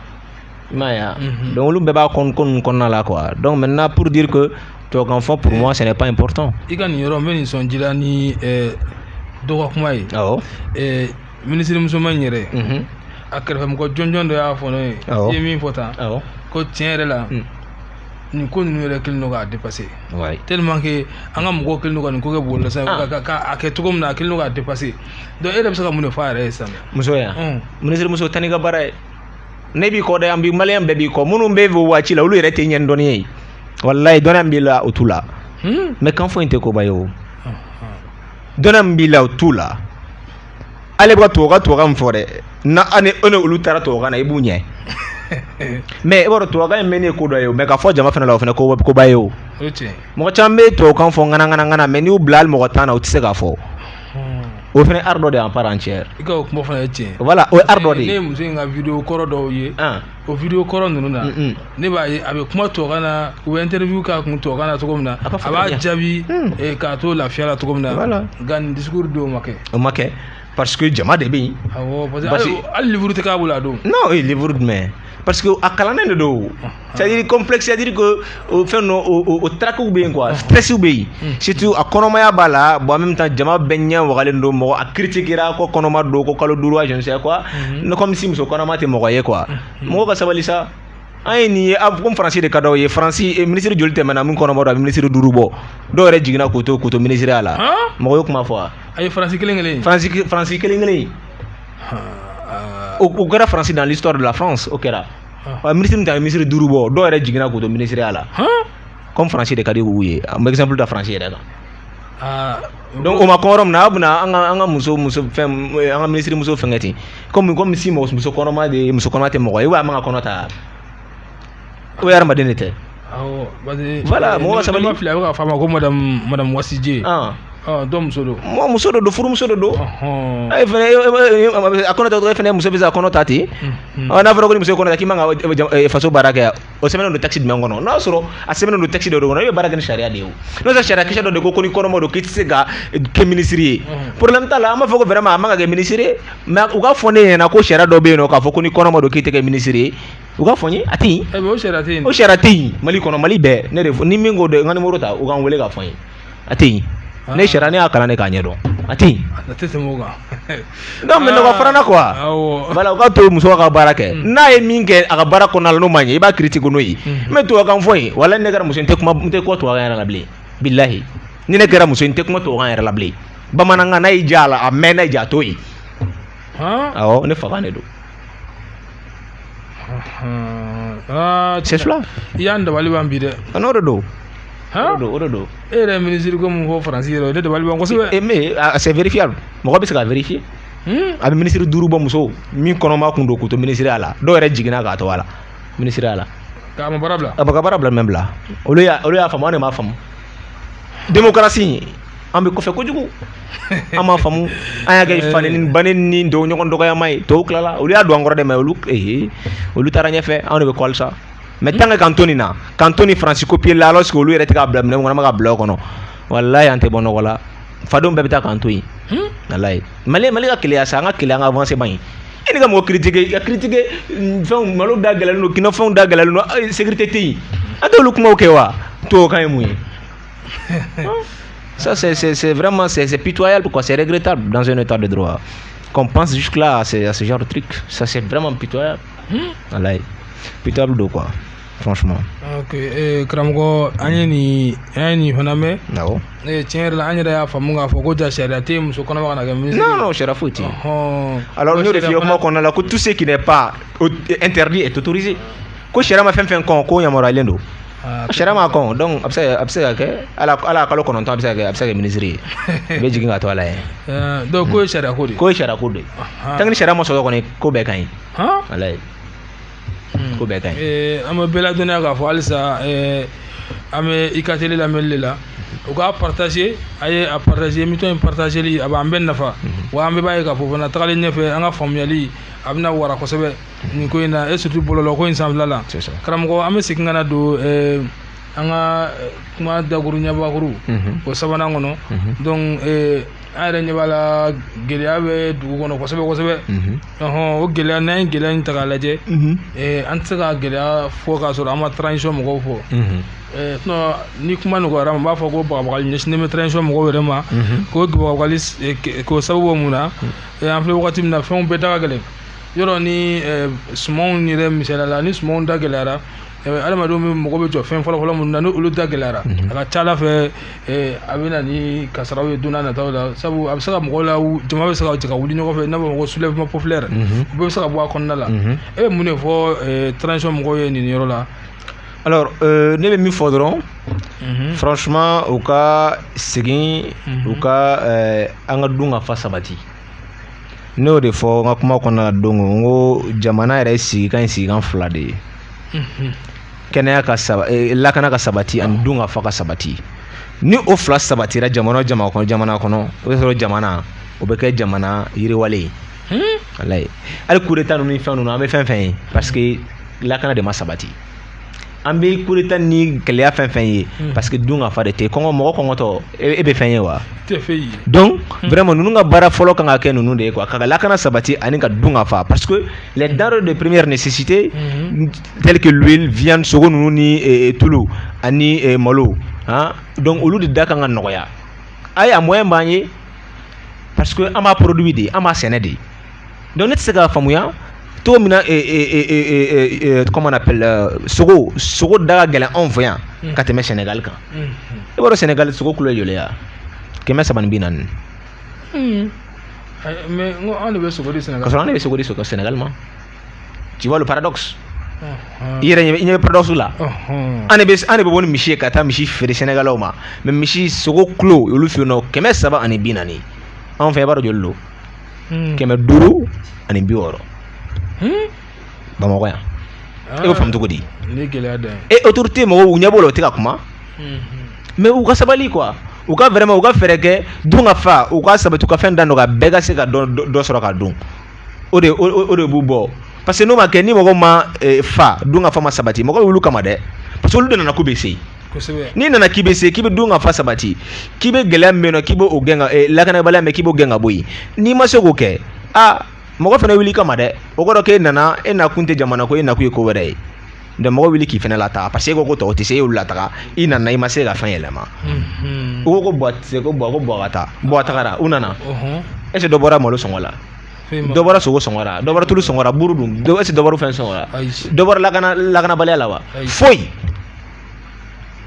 [SPEAKER 2] i m'a ye wa donc olu bɛɛ b'a ko ninnu kɔnɔna la quoi donc maintenant pour dire que tubabukan fɔ pour moi ce n'est pas important i ka nin yɔrɔ n bɛ nin
[SPEAKER 1] sɔn jila ni eh, dɔ ka kuma ye awɔ eh, minisiri musoman in yɛrɛ mhm, a kɛrɛfɛmɔgɔ jɔnjɔn dɔ y'a fɔ ne ye Awɔ. i ye min fɔ tan awɔ ko tiɲɛ yɛrɛ la Mm. nin ko ninnu yɛrɛ kelen don k'a dépasser ouais. tellement que an ka mɔgɔw kelen don ka nin ko kɛ bɔlɔlɔ sanfɛ ah. ka ka a kɛ cogo min na a kelen don k'a dépasser donc e yɛrɛ bɛ se ka mun de fɔ a yɛrɛ ye sisan muso ya mm.
[SPEAKER 2] ministre muso taa n'i ka baara ye ne b'i kɔ dɛ an bi maliyɛn bɛɛ b'i kɔ minnu bɛ o waati la olu yɛrɛ t'i ɲɛ ni dɔnniya ye walayi dɔnniya min b'i la o t'u la mais hmm? kan fɔ in tɛ koba ye o ah, ah. dɔnniya min b'i la o t'u la ale bɛ ka tubabukan tubabukan min fɔ dɛ na ani e ni olu taara tubabukan na i b'u ɲɛ mais i b'a dɔn tubabukan in mɛnni ye ko dɔ ye mais k'a fɔ jama fana la o fana koba ye o mɔgɔ caman bɛ tubabukan fɔ ŋanaŋanaŋana mais n'i y'u bila hali mɔgɔ tan na u tɛ se k'a fɔ hmm. o fana art dɔ de ye en part
[SPEAKER 1] entière voilà o ye art dɔ de ye
[SPEAKER 2] ne ye muso in ka
[SPEAKER 1] video kɔrɔ dɔw ye o video kɔrɔ ninnu na ne b'a ye a bɛ kuma tubabukan na u bɛ interview k'a kun tubabukan na cogo min na a b'a jaabi hmm. eh, k'a to lafiya la cogo min na nka nin discours don o ma kɛ o ma kɛ parce que jama de
[SPEAKER 2] bɛ yen parce que
[SPEAKER 1] hali livre tɛ k'a bolo a don non o ye livre jumɛn
[SPEAKER 2] parce que a kalannen de don c'est à dire complexe c'est à dire que o fɛn ninnu o tracw bɛ yen quoi stress bɛ yen surtout a kɔnɔmaya b'a la bon en même temps jama bɛɛ ɲɛ wagalen don mɔgɔ a critiquera ko kɔnɔma don ko kalo duuru wa je ne sais quoi ne comme si muso kɔnɔma tɛ mɔgɔ ye quoi mɔgɔ ka sabali sa an ye nin ye comme faransi de ka d'aw ye faransi minisiri joli tɛmɛna min kɔnɔma don a bɛ minisiri duuru bɔ dɔw yɛrɛ jiginna k'u to k'u to minisiriya la mɔgɔ ye kuma fɔ wa a ye faransi kelen kelen
[SPEAKER 1] faransi faransi kelen kelen
[SPEAKER 2] o kɛra faransi dans l'histoire de la France o kɛra wa minisiri min ta ye minisiri duuru bɔ dɔw yɛrɛ jiginna k'u to minisiriya la comme faransi de ka di u ye an bɛ exemple ta faransi yɛrɛ kan ah, donc o ma kɔn yɔrɔ min na a bɛna an ka an ka muso muso fɛn an ka minisiri muso fɛnkɛ ten comme comme si mɔgɔ muso kɔnɔma de muso kɔnɔma tɛ mɔgɔ ye ou bien a man ka kɔnɔ ta o ye hadamaden de tɛ voilà mɔgɔ ka sabali filɛ a bɛ ka f'a ma
[SPEAKER 1] ko madamu Wadidié dɔ muso don mɔgɔ muso dɔ don furumuso
[SPEAKER 2] dɔ don e fana a kɔnɔ ta dɔrɔn e fana muso bɛ se ka kɔnɔ ta ten n'a fɔra ko ni muso ye kɔnɔ ta k'i man ka faso baara kɛ o sɛbɛnnen don texte jumɛn kɔnɔ n'a sɔrɔ a sɛbɛnnen don texte dɔ de kɔnɔ e bɛ baara kɛ ni sariya de ye n'o tɛ sariya kisɛ dɔ de ko ko ni kɔnɔma don k'i tɛ se ka kɛ minisiri ye problème t'a la an b'a fɔ ko vraiment a man ka kɛ minisiri ye mais u k'a fɔ ne ɲɛna ko sariya dɔ bɛ yen nɔ k'a fɔ ko ni kɔnɔma don k'i tɛ kɛ minisiri ye u k'a fɔ n ye a tɛ yen eh, o sariya tɛ yen o sariya tɛ yen mali kɔnɔ mali bɛɛ ne de fɔ ni min ko dɛ n ka nimoro ta u ka n wele k'a fɔ n ye a tɛ yen ah. ne sariya ne y'a kalan de k'a ɲɛdɔn a tɛ yen a tɛ tɛmɛ o kan donc mais nɔgɔ farana quoi awɔ voilà u ka to muso ka baara kɛ hmm. n'a ye min kɛ a ka baara kɔnɔna la n'o ma ɲɛ i b'a critiquer n'o ye mais tubabukan fɔ yen walayi ne kɛra muso n tɛ kuma n tɛ kuma tubabukan yɛrɛ la bilen bilahi ni ne kɛra muso n tɛ kuma tubabukan yɛrɛ la bilen bamanankan n'a y'i diya a lamɛn n'a y'i diya a to yen awɔ ne fakan de don c'est cela i y'an dabali
[SPEAKER 1] ban bi dɛ a n'o de
[SPEAKER 2] don o don o de don e yɛrɛ minisiri ko mun
[SPEAKER 1] fɔ faransi yɛrɛ o de dabali ban kosɛbɛ e mais c'est vérifiable
[SPEAKER 2] mɔgɔ bɛ se k'a vérifier a bɛ minisiri duuru bɔ muso min kɔnɔma kun don k'u to minisiriya la dɔw yɛrɛ jiginna k'a to a la minisiriya la k'a ma baara bila a
[SPEAKER 1] bɛ ka baara bila mɛ bila
[SPEAKER 2] olu y'a olu
[SPEAKER 1] y'a
[SPEAKER 2] faamu an de m'a faamu demokarasi an bɛ kɔfɛ kojugu an m'a faamu an y'a kɛ fa nɛni ba nɛni dɔw ɲɔgɔn dɔgɔyama ye tɔw tilala olu y'a don an kɔrɔ dɛ mais olu ee olu taara ɲɛfɛ anw de bɛ kɔli sa mais tant que k'an to nin na k'an to nin faransi copier la alors que olu yɛrɛ tɛ k'a bila minɛn kɔnɔ an bɛ k'a bila o kɔnɔ walayi an tɛ bɔ nɔgɔ la fadenw bɛɛ bɛ taa k'an to yen walayi mali mali ka keleya sa an ka keleya an ka avancer man ɲi e n'i ka mɔgɔ critiquer i ka critiquer fɛnw malo da gɛlɛlen don kinɔfɛnw da gɛlɛlen don sécurité tɛ yen an t'olu kumaw kɛ wa tubabukan ye mun ye Ça, c'est vraiment c'est pitoyable, quoi. C'est regrettable dans un état de droit. Qu'on pense jusque-là à, ce genre de truc. Ça, c'est vraiment pitoyable. Walayi. Pitoyable don quoi franchement. ok eh,
[SPEAKER 1] karamɔgɔ an ye nin an ye nin fana mɛn. awɔ. Eh,
[SPEAKER 2] tiɲɛ yɛrɛ la an
[SPEAKER 1] yɛrɛ y'a faamu k'a fɔ ko ja sariya tɛ muso kɔnɔma kana kɛ minisiri. non non sariya foyi
[SPEAKER 2] tɛ yen. alors n y'o de f'i ye kuma kɔnɔna la ko tout ce qui n'est pas interdit est autorisé ko sariya ma fɛn fɛn kɔn k'o yamaruyalen don. A sariya m'a kɔn donc a bɛ se ka kɛ a la kalo kɔnɔntɔn a bɛ se kɛ a bɛ se ka kɛ minisiri ye a bɛ jigin k'a to a la yen donc ko sariya
[SPEAKER 1] ko ko sariya ko don
[SPEAKER 2] tant que ni sariya ma sɔrɔ kɔni ko bɛɛ ka ɲi walayi ko bɛɛ ka ɲi an bɛ bɛɛ ladɔnniya
[SPEAKER 1] k'a fɔ halisa an bɛ Ika télé lamɛnli la u k'a partager a ye a partager émission in partagerli a b'an bɛɛ nafa wa an bɛɛ b'a ye k'a fɔ fana tagalen ɲɛfɛ an ka faamuyali a bɛna wara kosɛbɛ nin ko in na et surtout bɔlɔlɔ ko in sanfɛla la karamɔgɔ an bɛ segin ka na don eh, an ka eh, kuma dakuru ɲɛbakuru mhm. o sabanan kɔnɔ mhm. donc eh, an yɛrɛ ɲɛ b'a la gɛlɛya bɛ dugu kɔnɔ kosɛbɛ kosɛbɛ mhm. o gɛlɛya n'an ye gɛlɛya in ta k'a lajɛ an tɛ se ka gɛlɛya fɔ k'a sɔrɔ an ma transition mɔgɔw fɔ Eh, sinon ni kuma nɔgɔyara n b'a fɔ ko bagabagali ɲɛsinnen bɛ transition mɔgɔw yɛrɛ ma mhm. k'o bagabagali eh, k'o sababu bɔ mun na mhm. eh, an filɛ wagati min na fɛnw bɛɛ da ka gɛlɛn yɔrɔ ni sumanw yɛrɛ misaliya la ni sumanw da gɛlɛyara adamadenw bɛɛ mako bɛ jɔ fɛn fɔlɔfɔlɔ minnu na ni olu da gɛlɛyara a ka ca a la fɛ a bɛ na ni kasaraw ye don nataw la sabu a bɛ se ka mɔgɔw la jama bɛ se ka jɛ ka wuli ɲɔgɔn fɛ n'a bɛ fɔ ko soulèvement populaire u bɛ se ka bɔ a kɔnɔna la e bɛ mun de fɔ transition mɔgɔw ye nin yɔrɔ la
[SPEAKER 2] alors euh, ne bɛ min fɔ dɔrɔn mhm. franchement u ka segin u ka euh, an ka dunkafa sabati ne y'o de fɔ n ka kuma kɔnɔna la don ko n ko jamana yɛrɛ sigikan ye sigikan fila de ye kɛnɛya ka saba eh, lakana ka sabati ani dun ka fa ka sabati ni o fila sabatira jamana o jamana kɔnɔ jamana kɔnɔ o bɛ sɔrɔ jamana o bɛ kɛ jamana yiriwalen ye walayi hali coup d'état ninnu ni fɛn ninnu an bɛ fɛn fɛn ye parce que lakana de ma sabati an bɛ coup d'état ni gɛlɛya fɛn fɛn ye hmm. parce que dun ka fa de tɛ kɔngɔ mɔgɔ kɔngɔtɔ e bɛ fɛn ye wa donc hmm. vraiment ninnu ka baara fɔlɔ kan ka kɛ ninnu de ye quoi ka lakana sabati ani ka dun ka fa parce que les denrées de première nécessité hmm. telles que l'huile viande sogo ninnu ni eh, eh, tulu ani eh, malo hein donc olu de da kan ka nɔgɔya ayi a moyen b'an ye parce que an b'a produit de an b'a sɛnɛ de Donc ne tɛ se k'a faamuya cogo min na comment on appelle sogo sogo da ka gɛlɛn anw fɛ yan ka tɛmɛ sɛnɛgali kan i b'a dɔn sɛnɛgali sogo kilo ye joli ye kɛmɛ saba ni bi naani an de
[SPEAKER 1] bɛ sogo di sɛnɛgali ka sɔrɔ an de bɛ sogo di
[SPEAKER 2] sɛnɛgali ma tu vois le paradoxe i yɛrɛ ɲɛ bɛ paradoxe la an de bɛ bɔ ni misi ye ka taa misi feere sɛnɛgalɛw ma mais misi sogo kilo olu fɛ yen kɛmɛ saba ani bi naani anw fɛ i b'a dɔn joli don hmm. kɛmɛ duuru ani bi wɔɔrɔ hmm? bamakɔ yan ah. e b'o faamu cogo di e autorité mɔgɔw u ɲɛ b'o la u tɛ ka kuma hmm, mais u ka sabali quoi u ka vraiment u ka fɛɛrɛ kɛ dun ka fa u ka sabati u ka fɛn da dɔgɔya bɛɛ ka se ka dɔ dɔ sɔrɔ ka dun o de o de b'u bɔ parce que n'o ma kɛ ni mɔgɔ ma eh, fa dun ka fa ma sabati mɔgɔ bɛ wuli u kama dɛ parce que olu de nana k'u bɛ se n'i nana k'i bɛ se k'i bɛ dun ka fa sabati k'i bɛ gɛlɛya min na k'i b'o gɛn ka eh, lakanabaliya min k'i b'o gɛn ka bɔ yen n'i ma se k'o kɛ aa mɔgɔ fana wuli i kama dɛ o kɔrɔ k'e nana e nakun tɛ jamana ko ye e nakun ye ko wɛrɛ ye donc mɔgɔ wuli k'i fana lataga parce que e ko ko tɔw tɛ se e y'olu lataga i nana i ma se ka fɛn yɛlɛma u ko ko Boua tɛ se ko Boua ko Boua ka taa Boua tagara u nana est-ce que dɔ bɔra malo sɔngɔ la dɔ bɔra sogo sɔngɔ la dɔ bɔra tulu sɔngɔ la buru dun est-ce que dɔ bɔra fɛn sɔngɔ la dɔ bɔra lakana lakanabaliya la wa foyi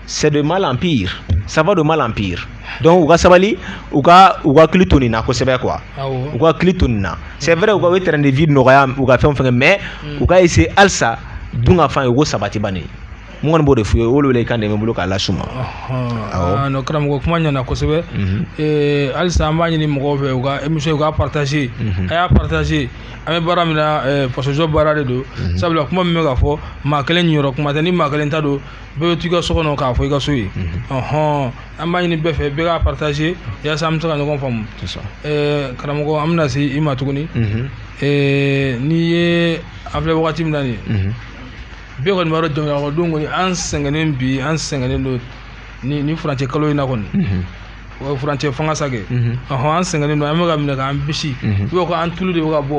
[SPEAKER 2] c'est de mal en pire ça va de mal en pire donc u ka sabali u ka u k'u hakili to nin na kosɛbɛ quoi u k'u hakili to nin na c'est vrai u ka u ye train de vie nɔgɔya u ka fɛnw fɛnkɛ mais mm. u ka essayer halisa dun ka fa ye u k'o sabati bani mun kɔni b'o de f'u ye o welekan de bɛ n bolo k'a las'u ma
[SPEAKER 1] awɔ non karamɔgɔ kuma ɲɛna kosɛbɛ halisa an b'a ɲini mɔgɔw fɛ u ka émission u k'a partager mhm. a y'a partager an bɛ baara min na fasojɔ baara de don sabula kuma min bɛ ka fɔ maa kelen niyɔrɔ kuma tɛ ni maa kelen ta don bɛɛ bɛ to i ka so kɔnɔ k'a fɔ i ka so ye ɔhɔn an b'a ɲini bɛɛ fɛ bɛɛ k'a partager yaasa an bɛ se ka ɲɔgɔn faamu karamɔgɔ an bɛna se i ma tuguni n'i ye an filɛ wagati min na nin bɛɛ kɔni b'a dɔn jamanakɔnɔdenw kɔni an sɛgɛnnen bi an sɛgɛnnen don ni ni furancɛ kalo in na kɔni o furancɛ fanga sa kɛ ɔhɔn an sɛgɛnnen don an bɛ ka minɛ k'an bisi i b'a fɔ an tulu de bɛ ka bɔ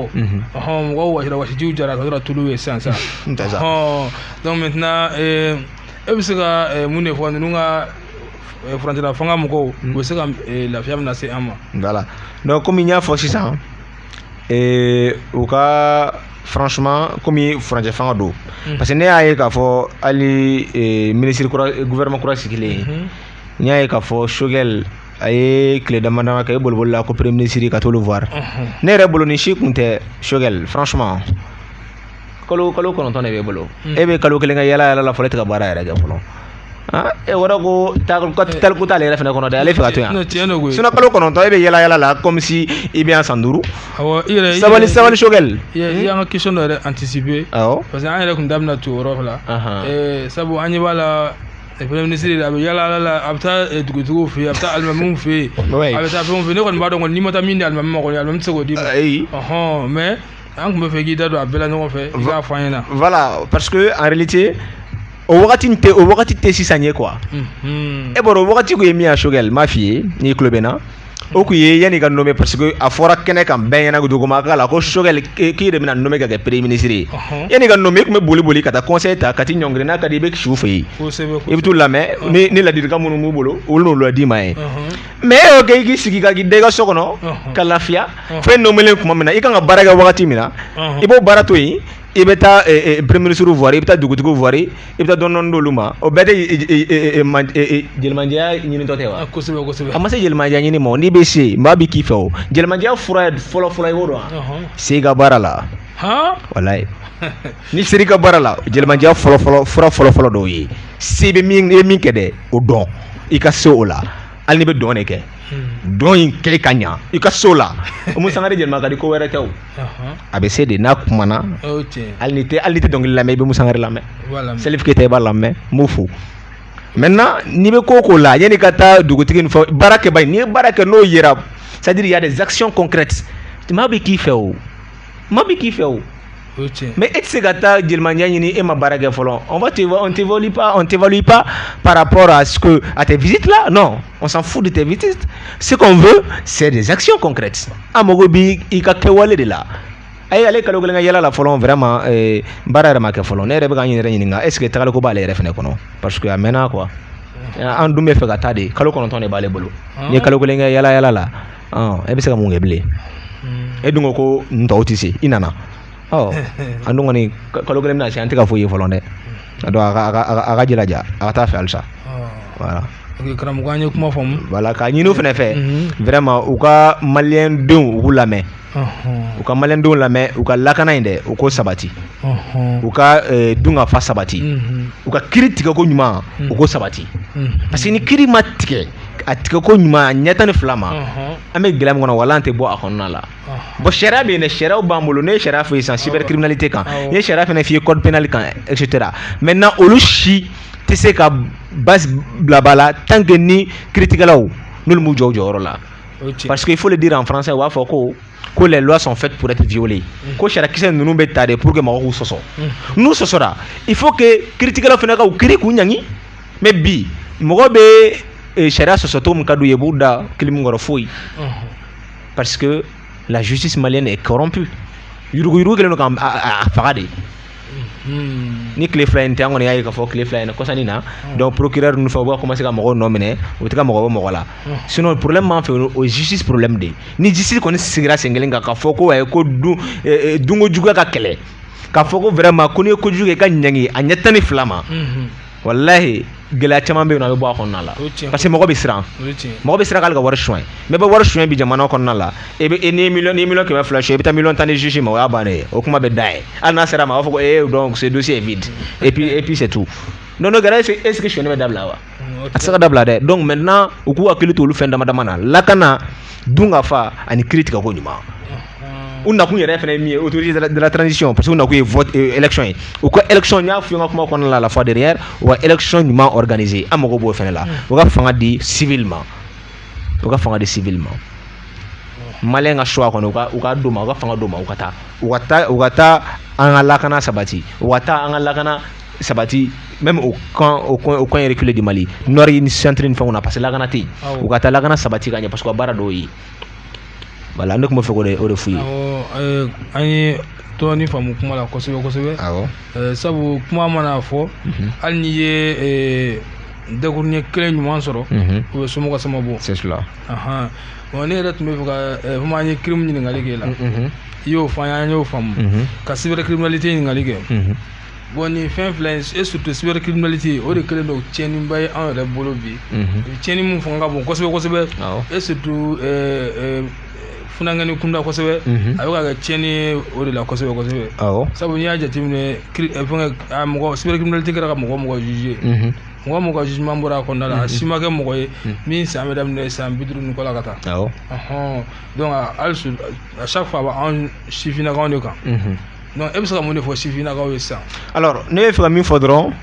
[SPEAKER 1] ɔhɔn mɔgɔw wasira wasijiw jara ka sɔrɔ tulu ye sisan sisan ɔhɔn donc maintenant e bɛ se ka mun de fɔ ninnu ka furancɛla fanga mɔgɔw u bɛ se ka lafiya min lase an ma voilà donc
[SPEAKER 2] komi n y'a fɔ sisan ee u ka franchement komi furancɛ fanga don mm. parce que ne y'a ye k'a fɔ hali e, ministre kura gouvernement kura sigilen mm -hmm. n y'a ye k'a fɔ Choguel a ye tile dama dama kɛ i boliboli la ko premier ministre ka t'olu voir mm -hmm. ne yɛrɛ bolo nin si kun tɛ Choguel franchement kalo kalo kɔnɔntɔn de b'e bolo hmm. e bɛ kalo kelen kɛ yala yala la fɔlɔ e tɛ ka baara yɛrɛ kɛ fɔlɔ ah, e wɔrɔ ko taaliko t'ale yɛrɛ fɛnɛ kɔnɔ dɛ ale fɛ ka to yan sinon kalo kɔnɔntɔn e bɛ yala yala la comme si i bɛ yan san duuru sabali sabali Choguel i y'an ka question
[SPEAKER 1] dɔ yɛrɛ anticiper awɔ parce que an yɛrɛ tun da bɛna to o yɔrɔ la eh, sabu an ɲɛ b'a la premier ministre a bɛ yala yala la a bɛ taa eh, dugutigiw fɛ yen a bɛ taa alimamiw fɛ yen a bɛ taa fɛnw fɛ yen ne kɔni b'a dɔn kɔni n'i ma taa min di alimami ma kɔni alimami tɛ se k'o d'i ma mais an tun bɛ fɛ k'i da don a bɛɛ la ɲɔgɔn fɛ i k'a fɔ an ɲɛna voilà parce que
[SPEAKER 2] en réalité o wagati tɛ o wagati tɛ sisan ye quoi mhm. e bɔra o wagati tun ye min ye Choguel n b'a f'i ye n'i tulo bɛ n na o tun ye yanni ka nommé parce que a fɔra kɛnɛ kan bɛɛ ɲɛna duguma k'a la ko Choguel k'i de bɛna nommé ka kɛ premier ministre ye uh-huh. yanni ka nommé i tun bɛ boli boli ka taa conseil ta ka t'i ɲɔngiri n'a ka di i bɛ si u fɛ yen i bɛ t'u lamɛn ni ladilikan minnu b'u bolo olu n'olu lad'i ma ye uh-huh. mais e y'o kɛ i k'i sigi ka k'i da i ka so kɔnɔ Ɔhɔn. ka lafiya Ɔhɔn. fo i nomelen tuma min na i kan ka baara kɛ wagati min na Ɔhɔn. i b'o baara to yen i bɛ taa eh, eh, premier ministre voir i bɛ taa dugutigiw voir i bɛ taa dɔɔni dɔɔni d'olu ma o bɛɛ tɛ eh, eh, eh, eh, man- eh, eh, jelimandiya ɲinitɔ tɛ wa Ah, kosɛbɛ kosɛbɛ a ma se jelimandiya ɲini ma o, n'i bɛ se maa bɛ k'i fɛ o jelimandiya fura ye fɔlɔfɔlɔ i b'o dɔn wa Ɔhɔn. se i ka baara la han walayi N'i ser'i ka baara la jelimandiya fɔlɔ fɔlɔ fura fɔlɔ fɔlɔ dɔ ye se i bɛ min i bɛ min kɛ dɛ o dɔn i ka se o la hali n'i bɛ dɔn de kɛ dɔn in kɛ ka ɲɛ i ka se o la Oumou Sangaré jelima ka di ko wɛrɛ tɛ a bɛ se de n'a kumana hali n'i tɛ hali n'i tɛ dɔnkili lamɛn i bɛ Oumou Sangaré lamɛn Salif Keita i b'a lamɛn n b'o fɔ maintenant n'i bɛ ko k'o la yanni ka taa dugutigi fo baara kɛ ba n'i ye baara kɛ n'o yera c'est-à-dire il y a des actions concrètes maa bɛ k'i fɛ o maa bɛ k'i fɛ o mais e tɛ se ka taa jelimandiya ɲini e ma baara kɛ fɔlɔ on va te on t'évalue pas on t'évalue pas par rapport à ce que à tes visites là non on s'en fout de tes visites ce qu'on veut c'est des actions concrètes an mago b'i ka kɛwale de la a ye ale ye kalo kelen kɛ yala la fɔlɔ vraiment eh, baara yɛrɛ ma kɛ fɔlɔ ne yɛrɛ bɛ ka n yɛrɛ ɲininka est ce que tagaliko b'ale yɛrɛ fɛnɛ kɔnɔ parce que a mɛnna quoi an dun bɛ fɛ ka taa de kalo kɔnɔntɔn de b'ale bolo n'i ye kalo kelen kɛ yala yala la e bɛ se ka mun kɛ bilen e dun ko ko n tɔw tɛ se i nana an dun kɔni kalo kelen bɛna se an tɛ ka foyi ye fɔlɔ dɛ donc a ka jilaja a ka taa fɛ halisa voilà karamɔgɔ an
[SPEAKER 1] ye kuma faamu voilà k'a ɲini u fana
[SPEAKER 2] fɛ vraiment u ka maliyɛndenw u k'u lamɛn u ka maliyɛndenw lamɛn u ka lakana in dɛ u k'o sabati u ka dunkafa sabati u ka kiiritigɛko ɲuman u k'o sabati parce que ni kiiri ma tigɛ a tigɛko ɲuman a ɲɛ tan ni fila ma an bɛ gɛlɛya min kɔnɔ wala an tɛ bɔ a kɔnɔna la bon sariya bɛ yen sariyaw b'an bolo ne ye sariya fɔ sisan cybercriminalité kan n ye sariya fana f'i ye code pénal kan etc maintenant olu si tɛ se ka basi bila ba la tant que ni kiiritigɛlaw n'olu m'u jɔ u jɔyɔrɔ la parce que il faut le dire en français u b'a fɔ ko les lois sont faites pour être violées ko sariyakisɛ ninnu bɛ ta de pour que mɔgɔw k'u sɔsɔ n'u sɔsɔra il faut que kiiritigɛlaw fana ka u kiiri k'u ɲ mais bi mɔgɔ bɛ eh, sariya sɔsɔ cogo min ka d'u ye b'u da kilimu kɔrɔ foyi parce que la justice malienne est corrompue yuruguyurugu kɛlen don k'a faga de ni tile fila in tɛ an kɔni y'a ye k'a fɔ tile fila in na kɔsani na donc procureur ninnu fɛ u b'a commencer ka mɔgɔw nɔ minɛ u tɛ ka mɔgɔ bɔ mɔgɔ la sinon problème b'an fɛ o ye justice problème de ye ni justice kɔni sigira sen kelen kan k'a fɔ ko ayi ko dun dunko juguya ka kɛlɛ k'a fɔ ko vraiment ko n'i ye kojugu kɛ i ka ɲangi a ɲɛ tan ni fila ma walahi gɛlɛya caman bɛ yen nɔ a bɛ bɔ a kɔnɔna la parce que mɔgɔ bɛ siran mɔgɔ bɛ siran k'ale ka wari suɲɛ mais bɛ wari suɲɛ bi jamana kɔnɔna la e bɛ ni miliyɔn ni miliyɔn kɛmɛ fila suɲɛ i bɛ taa miliyɔn tan di juge ma o y'a bannen ye o kuma bɛ da ye hali n'a ser'a ma a b'a fɔ ko ee donc ce dossier est vide et puis et puis c'est tout n'o kɛra est ce que suɲɛni bɛ dabila wa a tɛ se ka dabila dɛ donc maintenant u k'u hakili to olu fɛn dama dama na lakana dunkafa ani kiiritigɛko ɲuman u nakun yɛrɛ fana ye min ye autorité de la transition parce que u nakun ye vote euh, élection ye u ka élection n y'a fɔ n ka kuma kɔnɔna la la fois dernière u ka élection ɲuman organiser an mago b'o fana la u ka fanga di civil ma u ka fanga di civil ma maliyɛn ka choix kɔni u ka u ka d'o ma u ka fanga d'o ma u ka taa u ka taa u ka taa an ka lakana sabati u ka taa an ka lakana sabati même au camp au coin au coin reculé du Mali nord ni centre ni fɛnw na parce que lakana tɛ yen u ka taa lakana sabati ka ɲɛ parce que u ka baara d'o ye voilà ne tun bɛ fɛ k'o de o de f'u ye. awɔ an ye
[SPEAKER 1] dɔɔni faamu kuma la kosɛbɛ kosɛbɛ. awɔ. Eh, sabu kuma mana fɔ. Mhm. hali n'i ye eh, dakuruɲɛ kelen ɲuman sɔrɔ. Mhm. o bɛ somɔgɔ sama bɔ. c'est cela.
[SPEAKER 2] ahan bon
[SPEAKER 1] ne yɛrɛ tun bɛ fɛ ka eh, komi an ye crime ɲininkali k'e la. Mhm. i y'o fɔ an ye an y'o faamu. ka cybercriminalité ɲininkali kɛ. bon nin fɛn fila in et surtout cybercriminalité o de kɛlen don tiɲɛniba ye an yɛrɛ bolo bi tiɲɛni min fanga ka bon kosɛbɛ kosɛbɛ et surtout funankɛnin kunda kosɛbɛ a bɛ ka kɛ tiɲɛni ye o de la kosɛbɛ kosɛbɛ sabu n'i y'a jateminɛ fɛngɛ a mɔgɔ cybercriminalité kɛra ka mɔgɔ o mɔgɔ juger mɔgɔ o mɔgɔ jugement bɔra a kɔnɔna la a si ma kɛ mɔgɔ ye min san bɛ daminɛ san bi duuru ni kɔ la ka taa donc hali à chaque fois a bɛ an sifinnakaw de kan Donc e bɛ se ka mun de fɔ sifinnakaw ye sisan alors ne bɛ fɛ ka min
[SPEAKER 2] fɔ dɔrɔn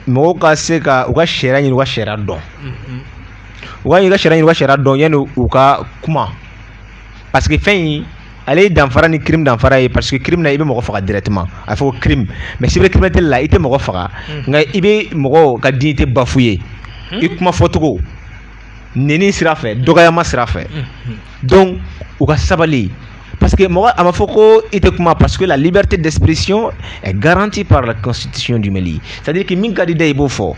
[SPEAKER 2] mɔgɔw ka se ka u ka sariya ɲini u ka sariya dɔn u ka ɲini ka sariya ɲini u ka sariya dɔn yanni u ka kuma parce que fɛn in ale ye danfara ni crime danfara ye parce que crime na i bɛ mɔgɔ faga directement a bɛ fɔ ko crime mais cybercriminalité la i tɛ mɔgɔ faga nka i bɛ mɔgɔ ka dignité bafouer i kuma fɔcogo neni sira fɛ dɔgɔyama sira fɛ donc u ka sabali parce que mɔgɔ a ma fɔ ko i tɛ kuma parce que la liberté d'expression est garantie par la constitution du Mali c'est-à-dire que min ka di i da i b'o fɔ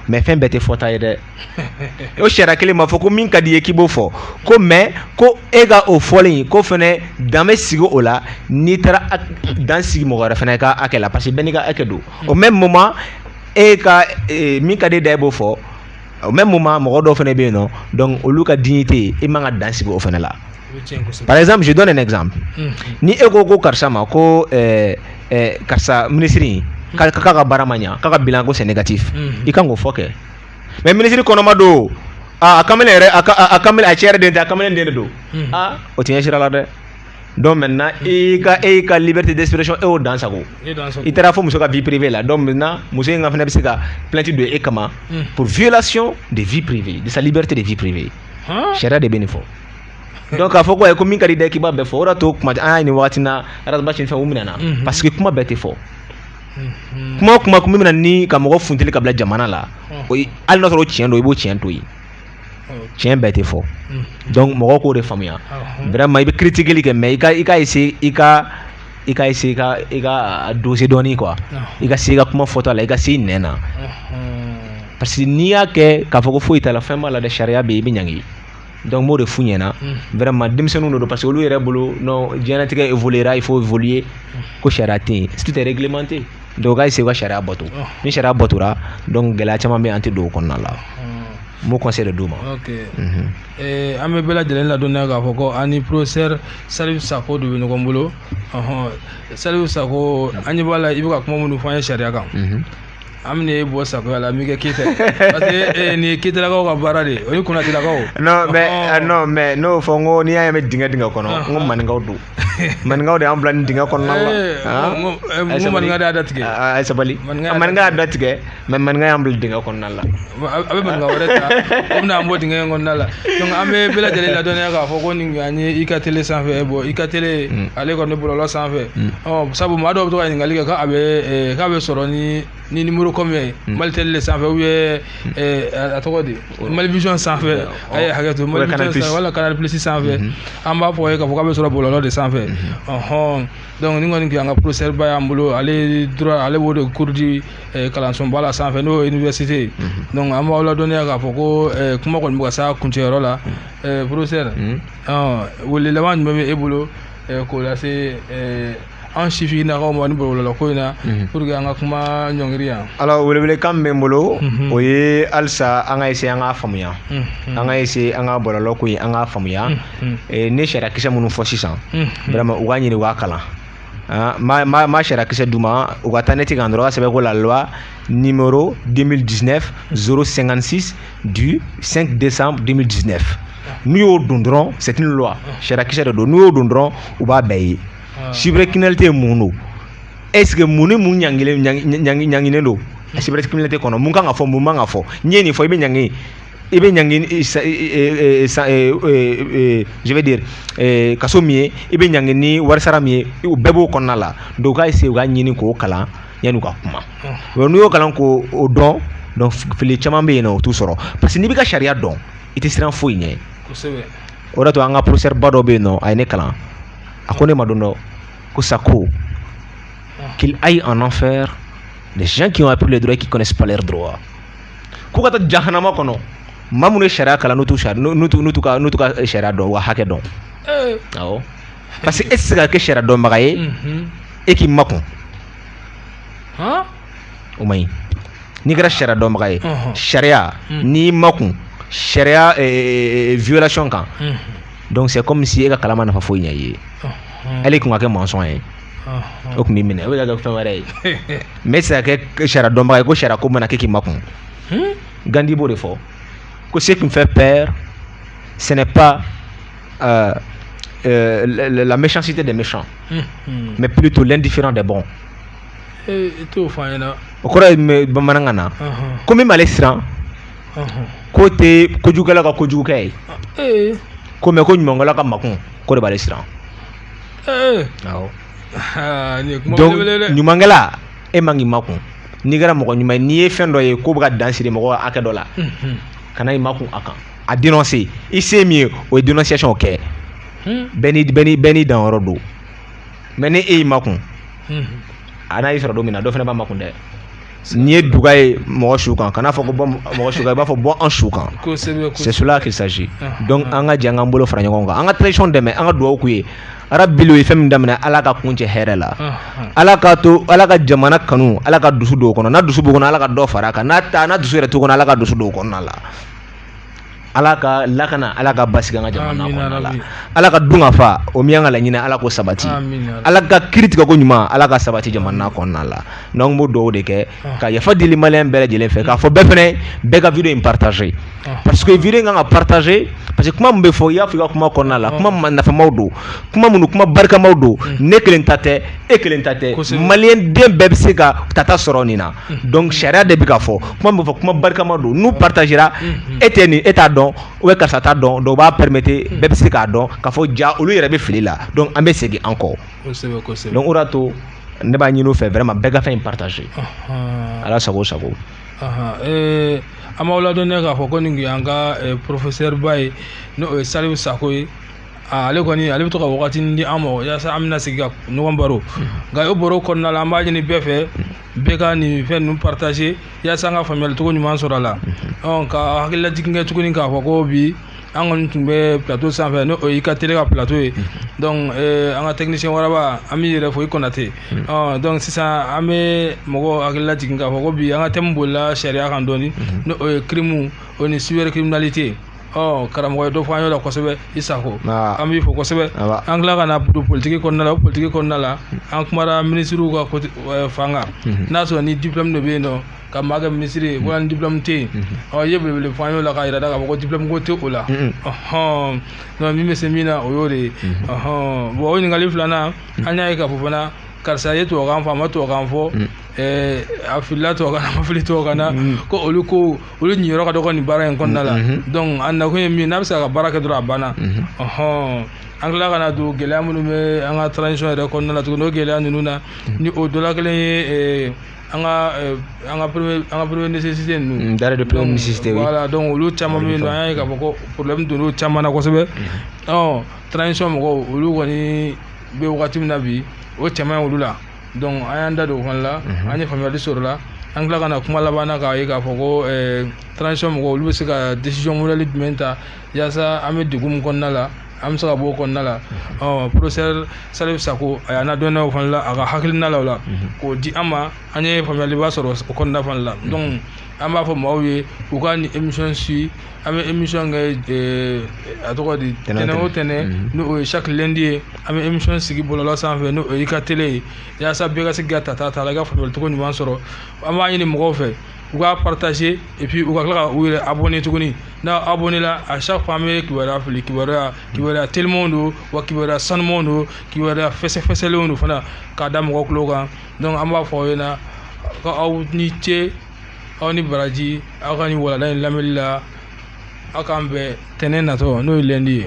[SPEAKER 2] mais fɛn bɛɛ tɛ fɔta ye dɛ o sariya kelen ma fɔ ko min ka di i ye k'i b'o fɔ ko mais ko e ka o fɔlen ko fɛnɛ dan bɛ sigi o la n'i taara dan sigi mɔgɔ wɛrɛ fɛnɛ ka hakɛ la parce que bɛɛ n'i ka hakɛ don au même moment e ka min ka di e da i b'o fɔ o mɛ mun ma mɔgɔ dɔw fana bɛ yen nɔ dɔnku olu ka di tɛ yen e man ka dan sigi o fana la pazmuso dɔn nin nɛgɛsan ni e ko ko karisa ma ko karisa minisiriri k'a ka bara ma ɲɛ k'a ka bila ko sɛnɛ ne kati i ka k'o fɔ kɛ mɛ minisiriri kɔnɔma don aaa a cɛ yɛrɛ de ta a kamalen den de don o ti sira la dɛ donc maintenant e ka e ka liberté d'expression e y'o dan sago i taara fɔ muso ka vie privée la donc maintenant muso in ka fana bɛ se ka plainte don e kama hmm. pour violation de vie privée de sa liberté de vie privée sariya de bɛ nin fɔ donc k'a fɔ ko ayi ko min ka di i da k'i b'a bɛɛ fɔ o de y'a to kuma an y'a nin wagati na Ras Bath ni fɛn u minɛna mhm. parce que kuma bɛɛ tɛ fɔ mhm. kuma o kuma kun bɛ na ni ka mɔgɔ funteni ka bila jamana la o ye hali n'a sɔrɔ o tiɲɛ don i b'o tiɲɛ to yen tiɲɛ bɛɛ tɛ fɔ donc mɔgɔw k'o de faamuya vraiment i bɛ critiquer kɛ mais i ka i ka essayer i ka i ka essayer ka i ka a doser dɔɔni quoi i ka se i ka kuma fɔta la i ka se i nɛn na parce que n'i y'a kɛ k'a fɔ ko foyi t'a la fɛn b'a la dɛ sariya bɛ yen i bɛ ɲangi donc n b'o de f'u ɲɛna vraiment denmisɛnninw de don parce que olu yɛrɛ bolo non diɲɛlatigɛ évoluera il faut évoluer ko sariya tɛ yen si tout est réglementé donc u ka se ka sariya bato ni sariya batora donc gɛlɛya caman bɛ an tɛ don o kɔnɔna la n b'o conseil de d'u
[SPEAKER 1] ma an bɛ bɛɛ lajɛlen ladɔnniya k'a fɔ ko an ni professeur Salifu Sako de bɛ ɲɔgɔn bolo Salifu Sako an ɲɛ b'a la i bɛ ka kuma minnu fɔ an ye sariya kan an bɛna e bɔ Sakoya la n b'i kɛ Keyita parce que nin ye Keyitalakaw ka baara de ye o ni Konatɛlakaw non mais non
[SPEAKER 2] mais n'o fɔ n ko n'i y'a ye n bɛ dingɛ dingɛ kɔnɔ n ko maninkaw don maninkaw de y'an bila nin dingɛ kɔnɔna la n
[SPEAKER 1] maninka de y'a da tigɛ a ye
[SPEAKER 2] sabali maninka y'a da tigɛ mais maninka y'an bila dingɛ kɔnɔna la a bɛ maninka
[SPEAKER 1] wɛrɛ ta o bɛna an bɔ dingɛ in kɔnɔna la donc an bɛ bɛɛ lajɛlen ladɔnniya k'a fɔ ko nin an ye i ka télé sanfɛ bon i ka télé ale kɔni bɔlɔlɔ sanfɛ sabu maa dɔw bɛ to ka ɲininkali kɛ k'a bɛ k'a bɛ sɔrɔ ni ni numéro combien hmm. Mali télé le sanfɛ ou bien hmm. eh, a tɔgɔ di Mali vision sanfɛ a ye hakɛ to Mali vision wala Canal Plus sanfɛ hmm. an b'a fɔ u ye k'a fɔ k'a bɛ sɔrɔ bɔlɔlɔ de sanfɛ ɔhɔn donc ni kɔni an ka professeur ba y'an bolo ale droit ale b'o de cours di eh, kalansoba la sanfɛ n'o ye université donc an b'aw ladɔnniya k'a fɔ ko eh, kuma kɔni bɛ ka s'a kuncɛyɔrɔ la professeur ɔ wele laban jumɛn bɛ e bolo k'o lase an sifinnakaw ma nin bɔlɔlɔ ko in na mhm. pour que an ka kuma ɲɔngiri yan alors welewelekan min bɛ n
[SPEAKER 2] bolo mhm. o ye halisa an ka essayer an k'a faamuya mhm. an ka essayer an ka bɔlɔlɔ ko in an k'a faamuya eh, ne sariya kisɛ minnu fɔ sisan vraiment u k'a ɲini u k'a kalan ah, ma ma ma sariya kisɛ d'u ma u ka taa net kan dɔrɔn k'a sɛbɛn ko la loi numéro 2019 056 du 5 décembre 2019 n'u y'o don dɔrɔn c'est une loi sariyakisɛ de don n'u y'o don dɔrɔn u b'a bɛɛ ye cybercriminalité ye mun don est ce que mun ni mun ɲanginen ɲangi ɲanginen don a cybercriminalité kɔnɔ mun kan ka fɔ mun man ka fɔ n'i ye nin fɔ i bɛ ɲangi i bɛ ɲangi je vais dire kaso min ye i bɛ ɲangi ni warisara min ye u bɛɛ b'o kɔnɔna la donc u ka essayer u ka ɲini k'o kalan yanni u ka kuma n'u y'o kalan k'o dɔn donc fili caman bɛ yen nɔ o t'u sɔrɔ parce que n'i b'i ka sariya dɔn i tɛ siran foyi ɲɛ o de to an ka professeur ba dɔ bɛ yen nɔ a ye ne kalan a ko ne ma don dɔ ko Sako qu'ils aillent en enfer les gens qui ont appris le droit qui connaissent pas leur droit k'u ka taa jahanama kɔnɔ maa minnu ye sariya kalan n'u t'u sariya n'u t'u n'u t'u ka n'u t'u ka sariya dɔn wa hakɛ dɔn awɔ parce que e tɛ se ka kɛ sariya dɔnbaga ye e k'i makun o man ɲi n'i kɛra sariya dɔnbaga ye sariya n'i makun sariya violation kan donc c'est comme si e ka kalan ma nafa foyi ɲɛ i ye hali kun ka kɛ maçon ye o tun b'i minɛ o bɛ ka kɛ fɛn wɛrɛ ye mais e tɛ se ka kɛ sariya dɔnbaga ye ko sariya ko mana kɛ k'i makun Gandhi b'o de fɔ ko ce qui me fait peur ce n'est pas euh, euh, la méchanceté des méchants mais plutôt l'indifférent des bons ee i t'o fɔ an ɲɛna o kɔrɔ ye mɛ- bamanankan na Ɔhɔn, ko min b'ale siran ɔhɔn. k'o tɛ kojugukɛla ka kojugukɛ ye ee ko mais ko ɲumankɛla ka makun k'o de b'ale siran ee awɔ aa, nin ye kuma donc belebele ye dɛ ɲumankɛla e man k'i makun n'i kɛra mɔgɔ ɲuman ye n'i ye fɛn dɔ ye k'o bɛ ka dan siri mɔgɔ hakɛ dɔ la Unhun, kana i makun a kan a dénoncer i se ye min ye o ye dénonciation kɛ unhun. bɛɛ ni bɛɛ ni bɛɛ n'i danyɔrɔ don mais ni e y'i makun a n'a y'i sɔrɔ don min na dɔ fana b'a makun dɛ n'i ye duga ye mɔgɔ su kan kana fɔ ko bɔ mɔgɔ su kan i b'a fɔ bɔ an su kan c'est cela qu'il s'agit donc an ka jɛ an k'an bolo fara ɲɔgɔn kan an ka transition dɛmɛ an ka dugawu k'u ye yarabi u ye fɛn min daminɛ ala k'a kuncɛ hɛrɛ la ala ka to ala ka jamana kanu ala ka dusu don u kɔnɔ n'a dusu b'u kɔnɔ ala ka dɔ fara a kan n'a dusu yɛrɛ t'u kɔnɔ ala ka dusu don u kɔnɔna la ala k'a lakana ala ka basigi an ka jamana kɔnɔna la ala ka dunkafa o min y'an ka laɲini ala k'o sabati ala ka kiri tigɛ ko ɲuman ala ka sabati jamana kɔnɔna la donc n b'o dugawu de kɛ ah. ka yafa dili maliyɛn bɛɛ lajɛlen fɛ k'a fɔ bɛɛ fana bɛɛ ka vidéo in partager ah. parce que vidéo in kan ka partager parce que kuma min bɛ fɔ i y'a fɔ i ka kuma kɔnɔna la ah. kuma nafamaw don kuma minnu kuma barikamaw don ne kelen ta tɛ e kelen ta tɛ maliyɛn den bɛɛ bɛ se ka tata sɔrɔ nin na donc sariya de bɛ ka fɔ kuma min fɔ kuma barikama don n'u partagera e tɛ nin e t'a dɔn ou bien karisa t'a dɔn donc o b'a permettre bɛɛ bɛ se k'a dɔn k'a fɔ ja olu yɛrɛ bɛ fili la donc an bɛ segin an kɔ kosɛbɛ kosɛbɛ donc o de y'a to ne b'a ɲini u fɛ vraiment bɛɛ ka fɛn in partager ala sago sago Ahan, eh,
[SPEAKER 1] an b'aw ladɔnniya k'a fɔ ko nin kun y'an ka eh, professeur ba ye n'o ye salifu sako ye Ah, ale kɔni ale bɛ to ka wagatinin di an ma yasa an bɛna sigi ka ɲɔgɔn baro nka o baro kɔnɔna la an b'a ɲini bɛɛ fɛ bɛɛ ka nin fɛn ninnu partager yasa an ka faamuyali cogo ɲuman sɔrɔ a la ɔ ka hakililajigin kɛ tuguni k'a fɔ ko bi an kɔni tun bɛ plateau sanfɛ n'o y'i ka télé ka plateau ye donc eh, an ka technicien waraba an b'i yɛrɛ fo i kɔnate ɔ donc sisan an bɛ mɔgɔw hakilila jigin k'a fɔ ko bi an ka thème bolila sariya kan dɔɔni n'o ye crime o ni cybercriminalité ɔ karamɔgɔ ye dɔ fɔ an y'o la kosɛbɛ i sako an b'i fo kosɛbɛ an tila ka na don politiki kɔnɔna la o politiki kɔnɔna la an kumara minisiriw ka fan kan mhm. n'a sɔrɔ ni diplɔmu de bɛ yen nɔ ka maa kɛ minisiri ye wala ni diplɔmu tɛ yen mhm. ɔ i ye belebele fɔ an y'o la k'a yira da k'a fɔ ko diplɔmu ko tɛ o la mhm. ɔhɔn donc min bɛ se min na o y'o de ye ɔhɔn bon o ɲininkali filanan an y'a ye k'a fɔ fana karisa ye tubabukan fɔ a ma tubabukan fɔ Eh, a filila tubabukan na a ma fili tubabukan na mm-hmm. ko olu ko olu ɲiyɔrɔ ka dɔgɔ nin baara in kɔnɔna la mm-hmm. Mm-hmm. donc a nakun ye min n'a bɛ se ka baara kɛ dɔrɔn a banna ɔhɔn an tila ka na don gɛlɛya minnu bɛ an ka transition yɛrɛ kɔnɔna la tuguni o gɛlɛya ninnu na ni o dɔ la kelen ye eh, an ka eh, an ka premier an ka premier nécessité ninnu mm, denrées de première nécessité
[SPEAKER 2] oui voilà donc olu
[SPEAKER 1] caman bɛ yen nɔ an y'a ye k'a fɔ ko problème donn'o caman na kosɛbɛ ɔ transition mɔgɔw olu kɔni bɛ wagati min na bi o caman ye olu la donc an y'an da don o fana la mhm. an ye faamuyali sɔrɔ la an tila ka na kuma laban na k'a ye k'a fɔ ko eh, transition mɔgɔw olu bɛ se ka décision modèle jumɛn ta yaasa an bɛ degun min kɔnɔna la an bɛ se ka bɔ o kɔnɔna la mhm. ɔ professeur Salifu Sako a y'an ladɔnniya o fana la a ka hakilina la o la mhm. k'o di an ma an ye faamuyaliba sɔrɔ o kɔnɔna fana la donc an b'a fɔ maaw ye u ka nin émission suit an bɛ émission kɛ a tɔgɔ di tɛnɛn o tɛnɛn mhm. n'o ye chaque lundi ye an bɛ émission sigi bɔlɔlɔ sanfɛ n'o ye i ka tele ye yaasa bɛɛ ka se k'i ta ta a la i ka faamuyali cogo ɲuman sɔrɔ an b'a ɲini mɔgɔw fɛ u k'a partager et puis u ka tila ka u yɛrɛ abonné tuguni n'a abonné la à chaque fois an bɛ kibaruya fili kibaruya kibaruya telimanw don wa kibaruya sanumanw don kibaruya fɛsɛfɛsɛlenw don fana k'a da mɔgɔ tulo kan donc an b'a fɔ aw ɲɛna ko aw ni ce aw ni baraji aw ka nin walanda in lamɛnni la aw k'an bɛn tɛnɛn natɔ n'o ye lundi ye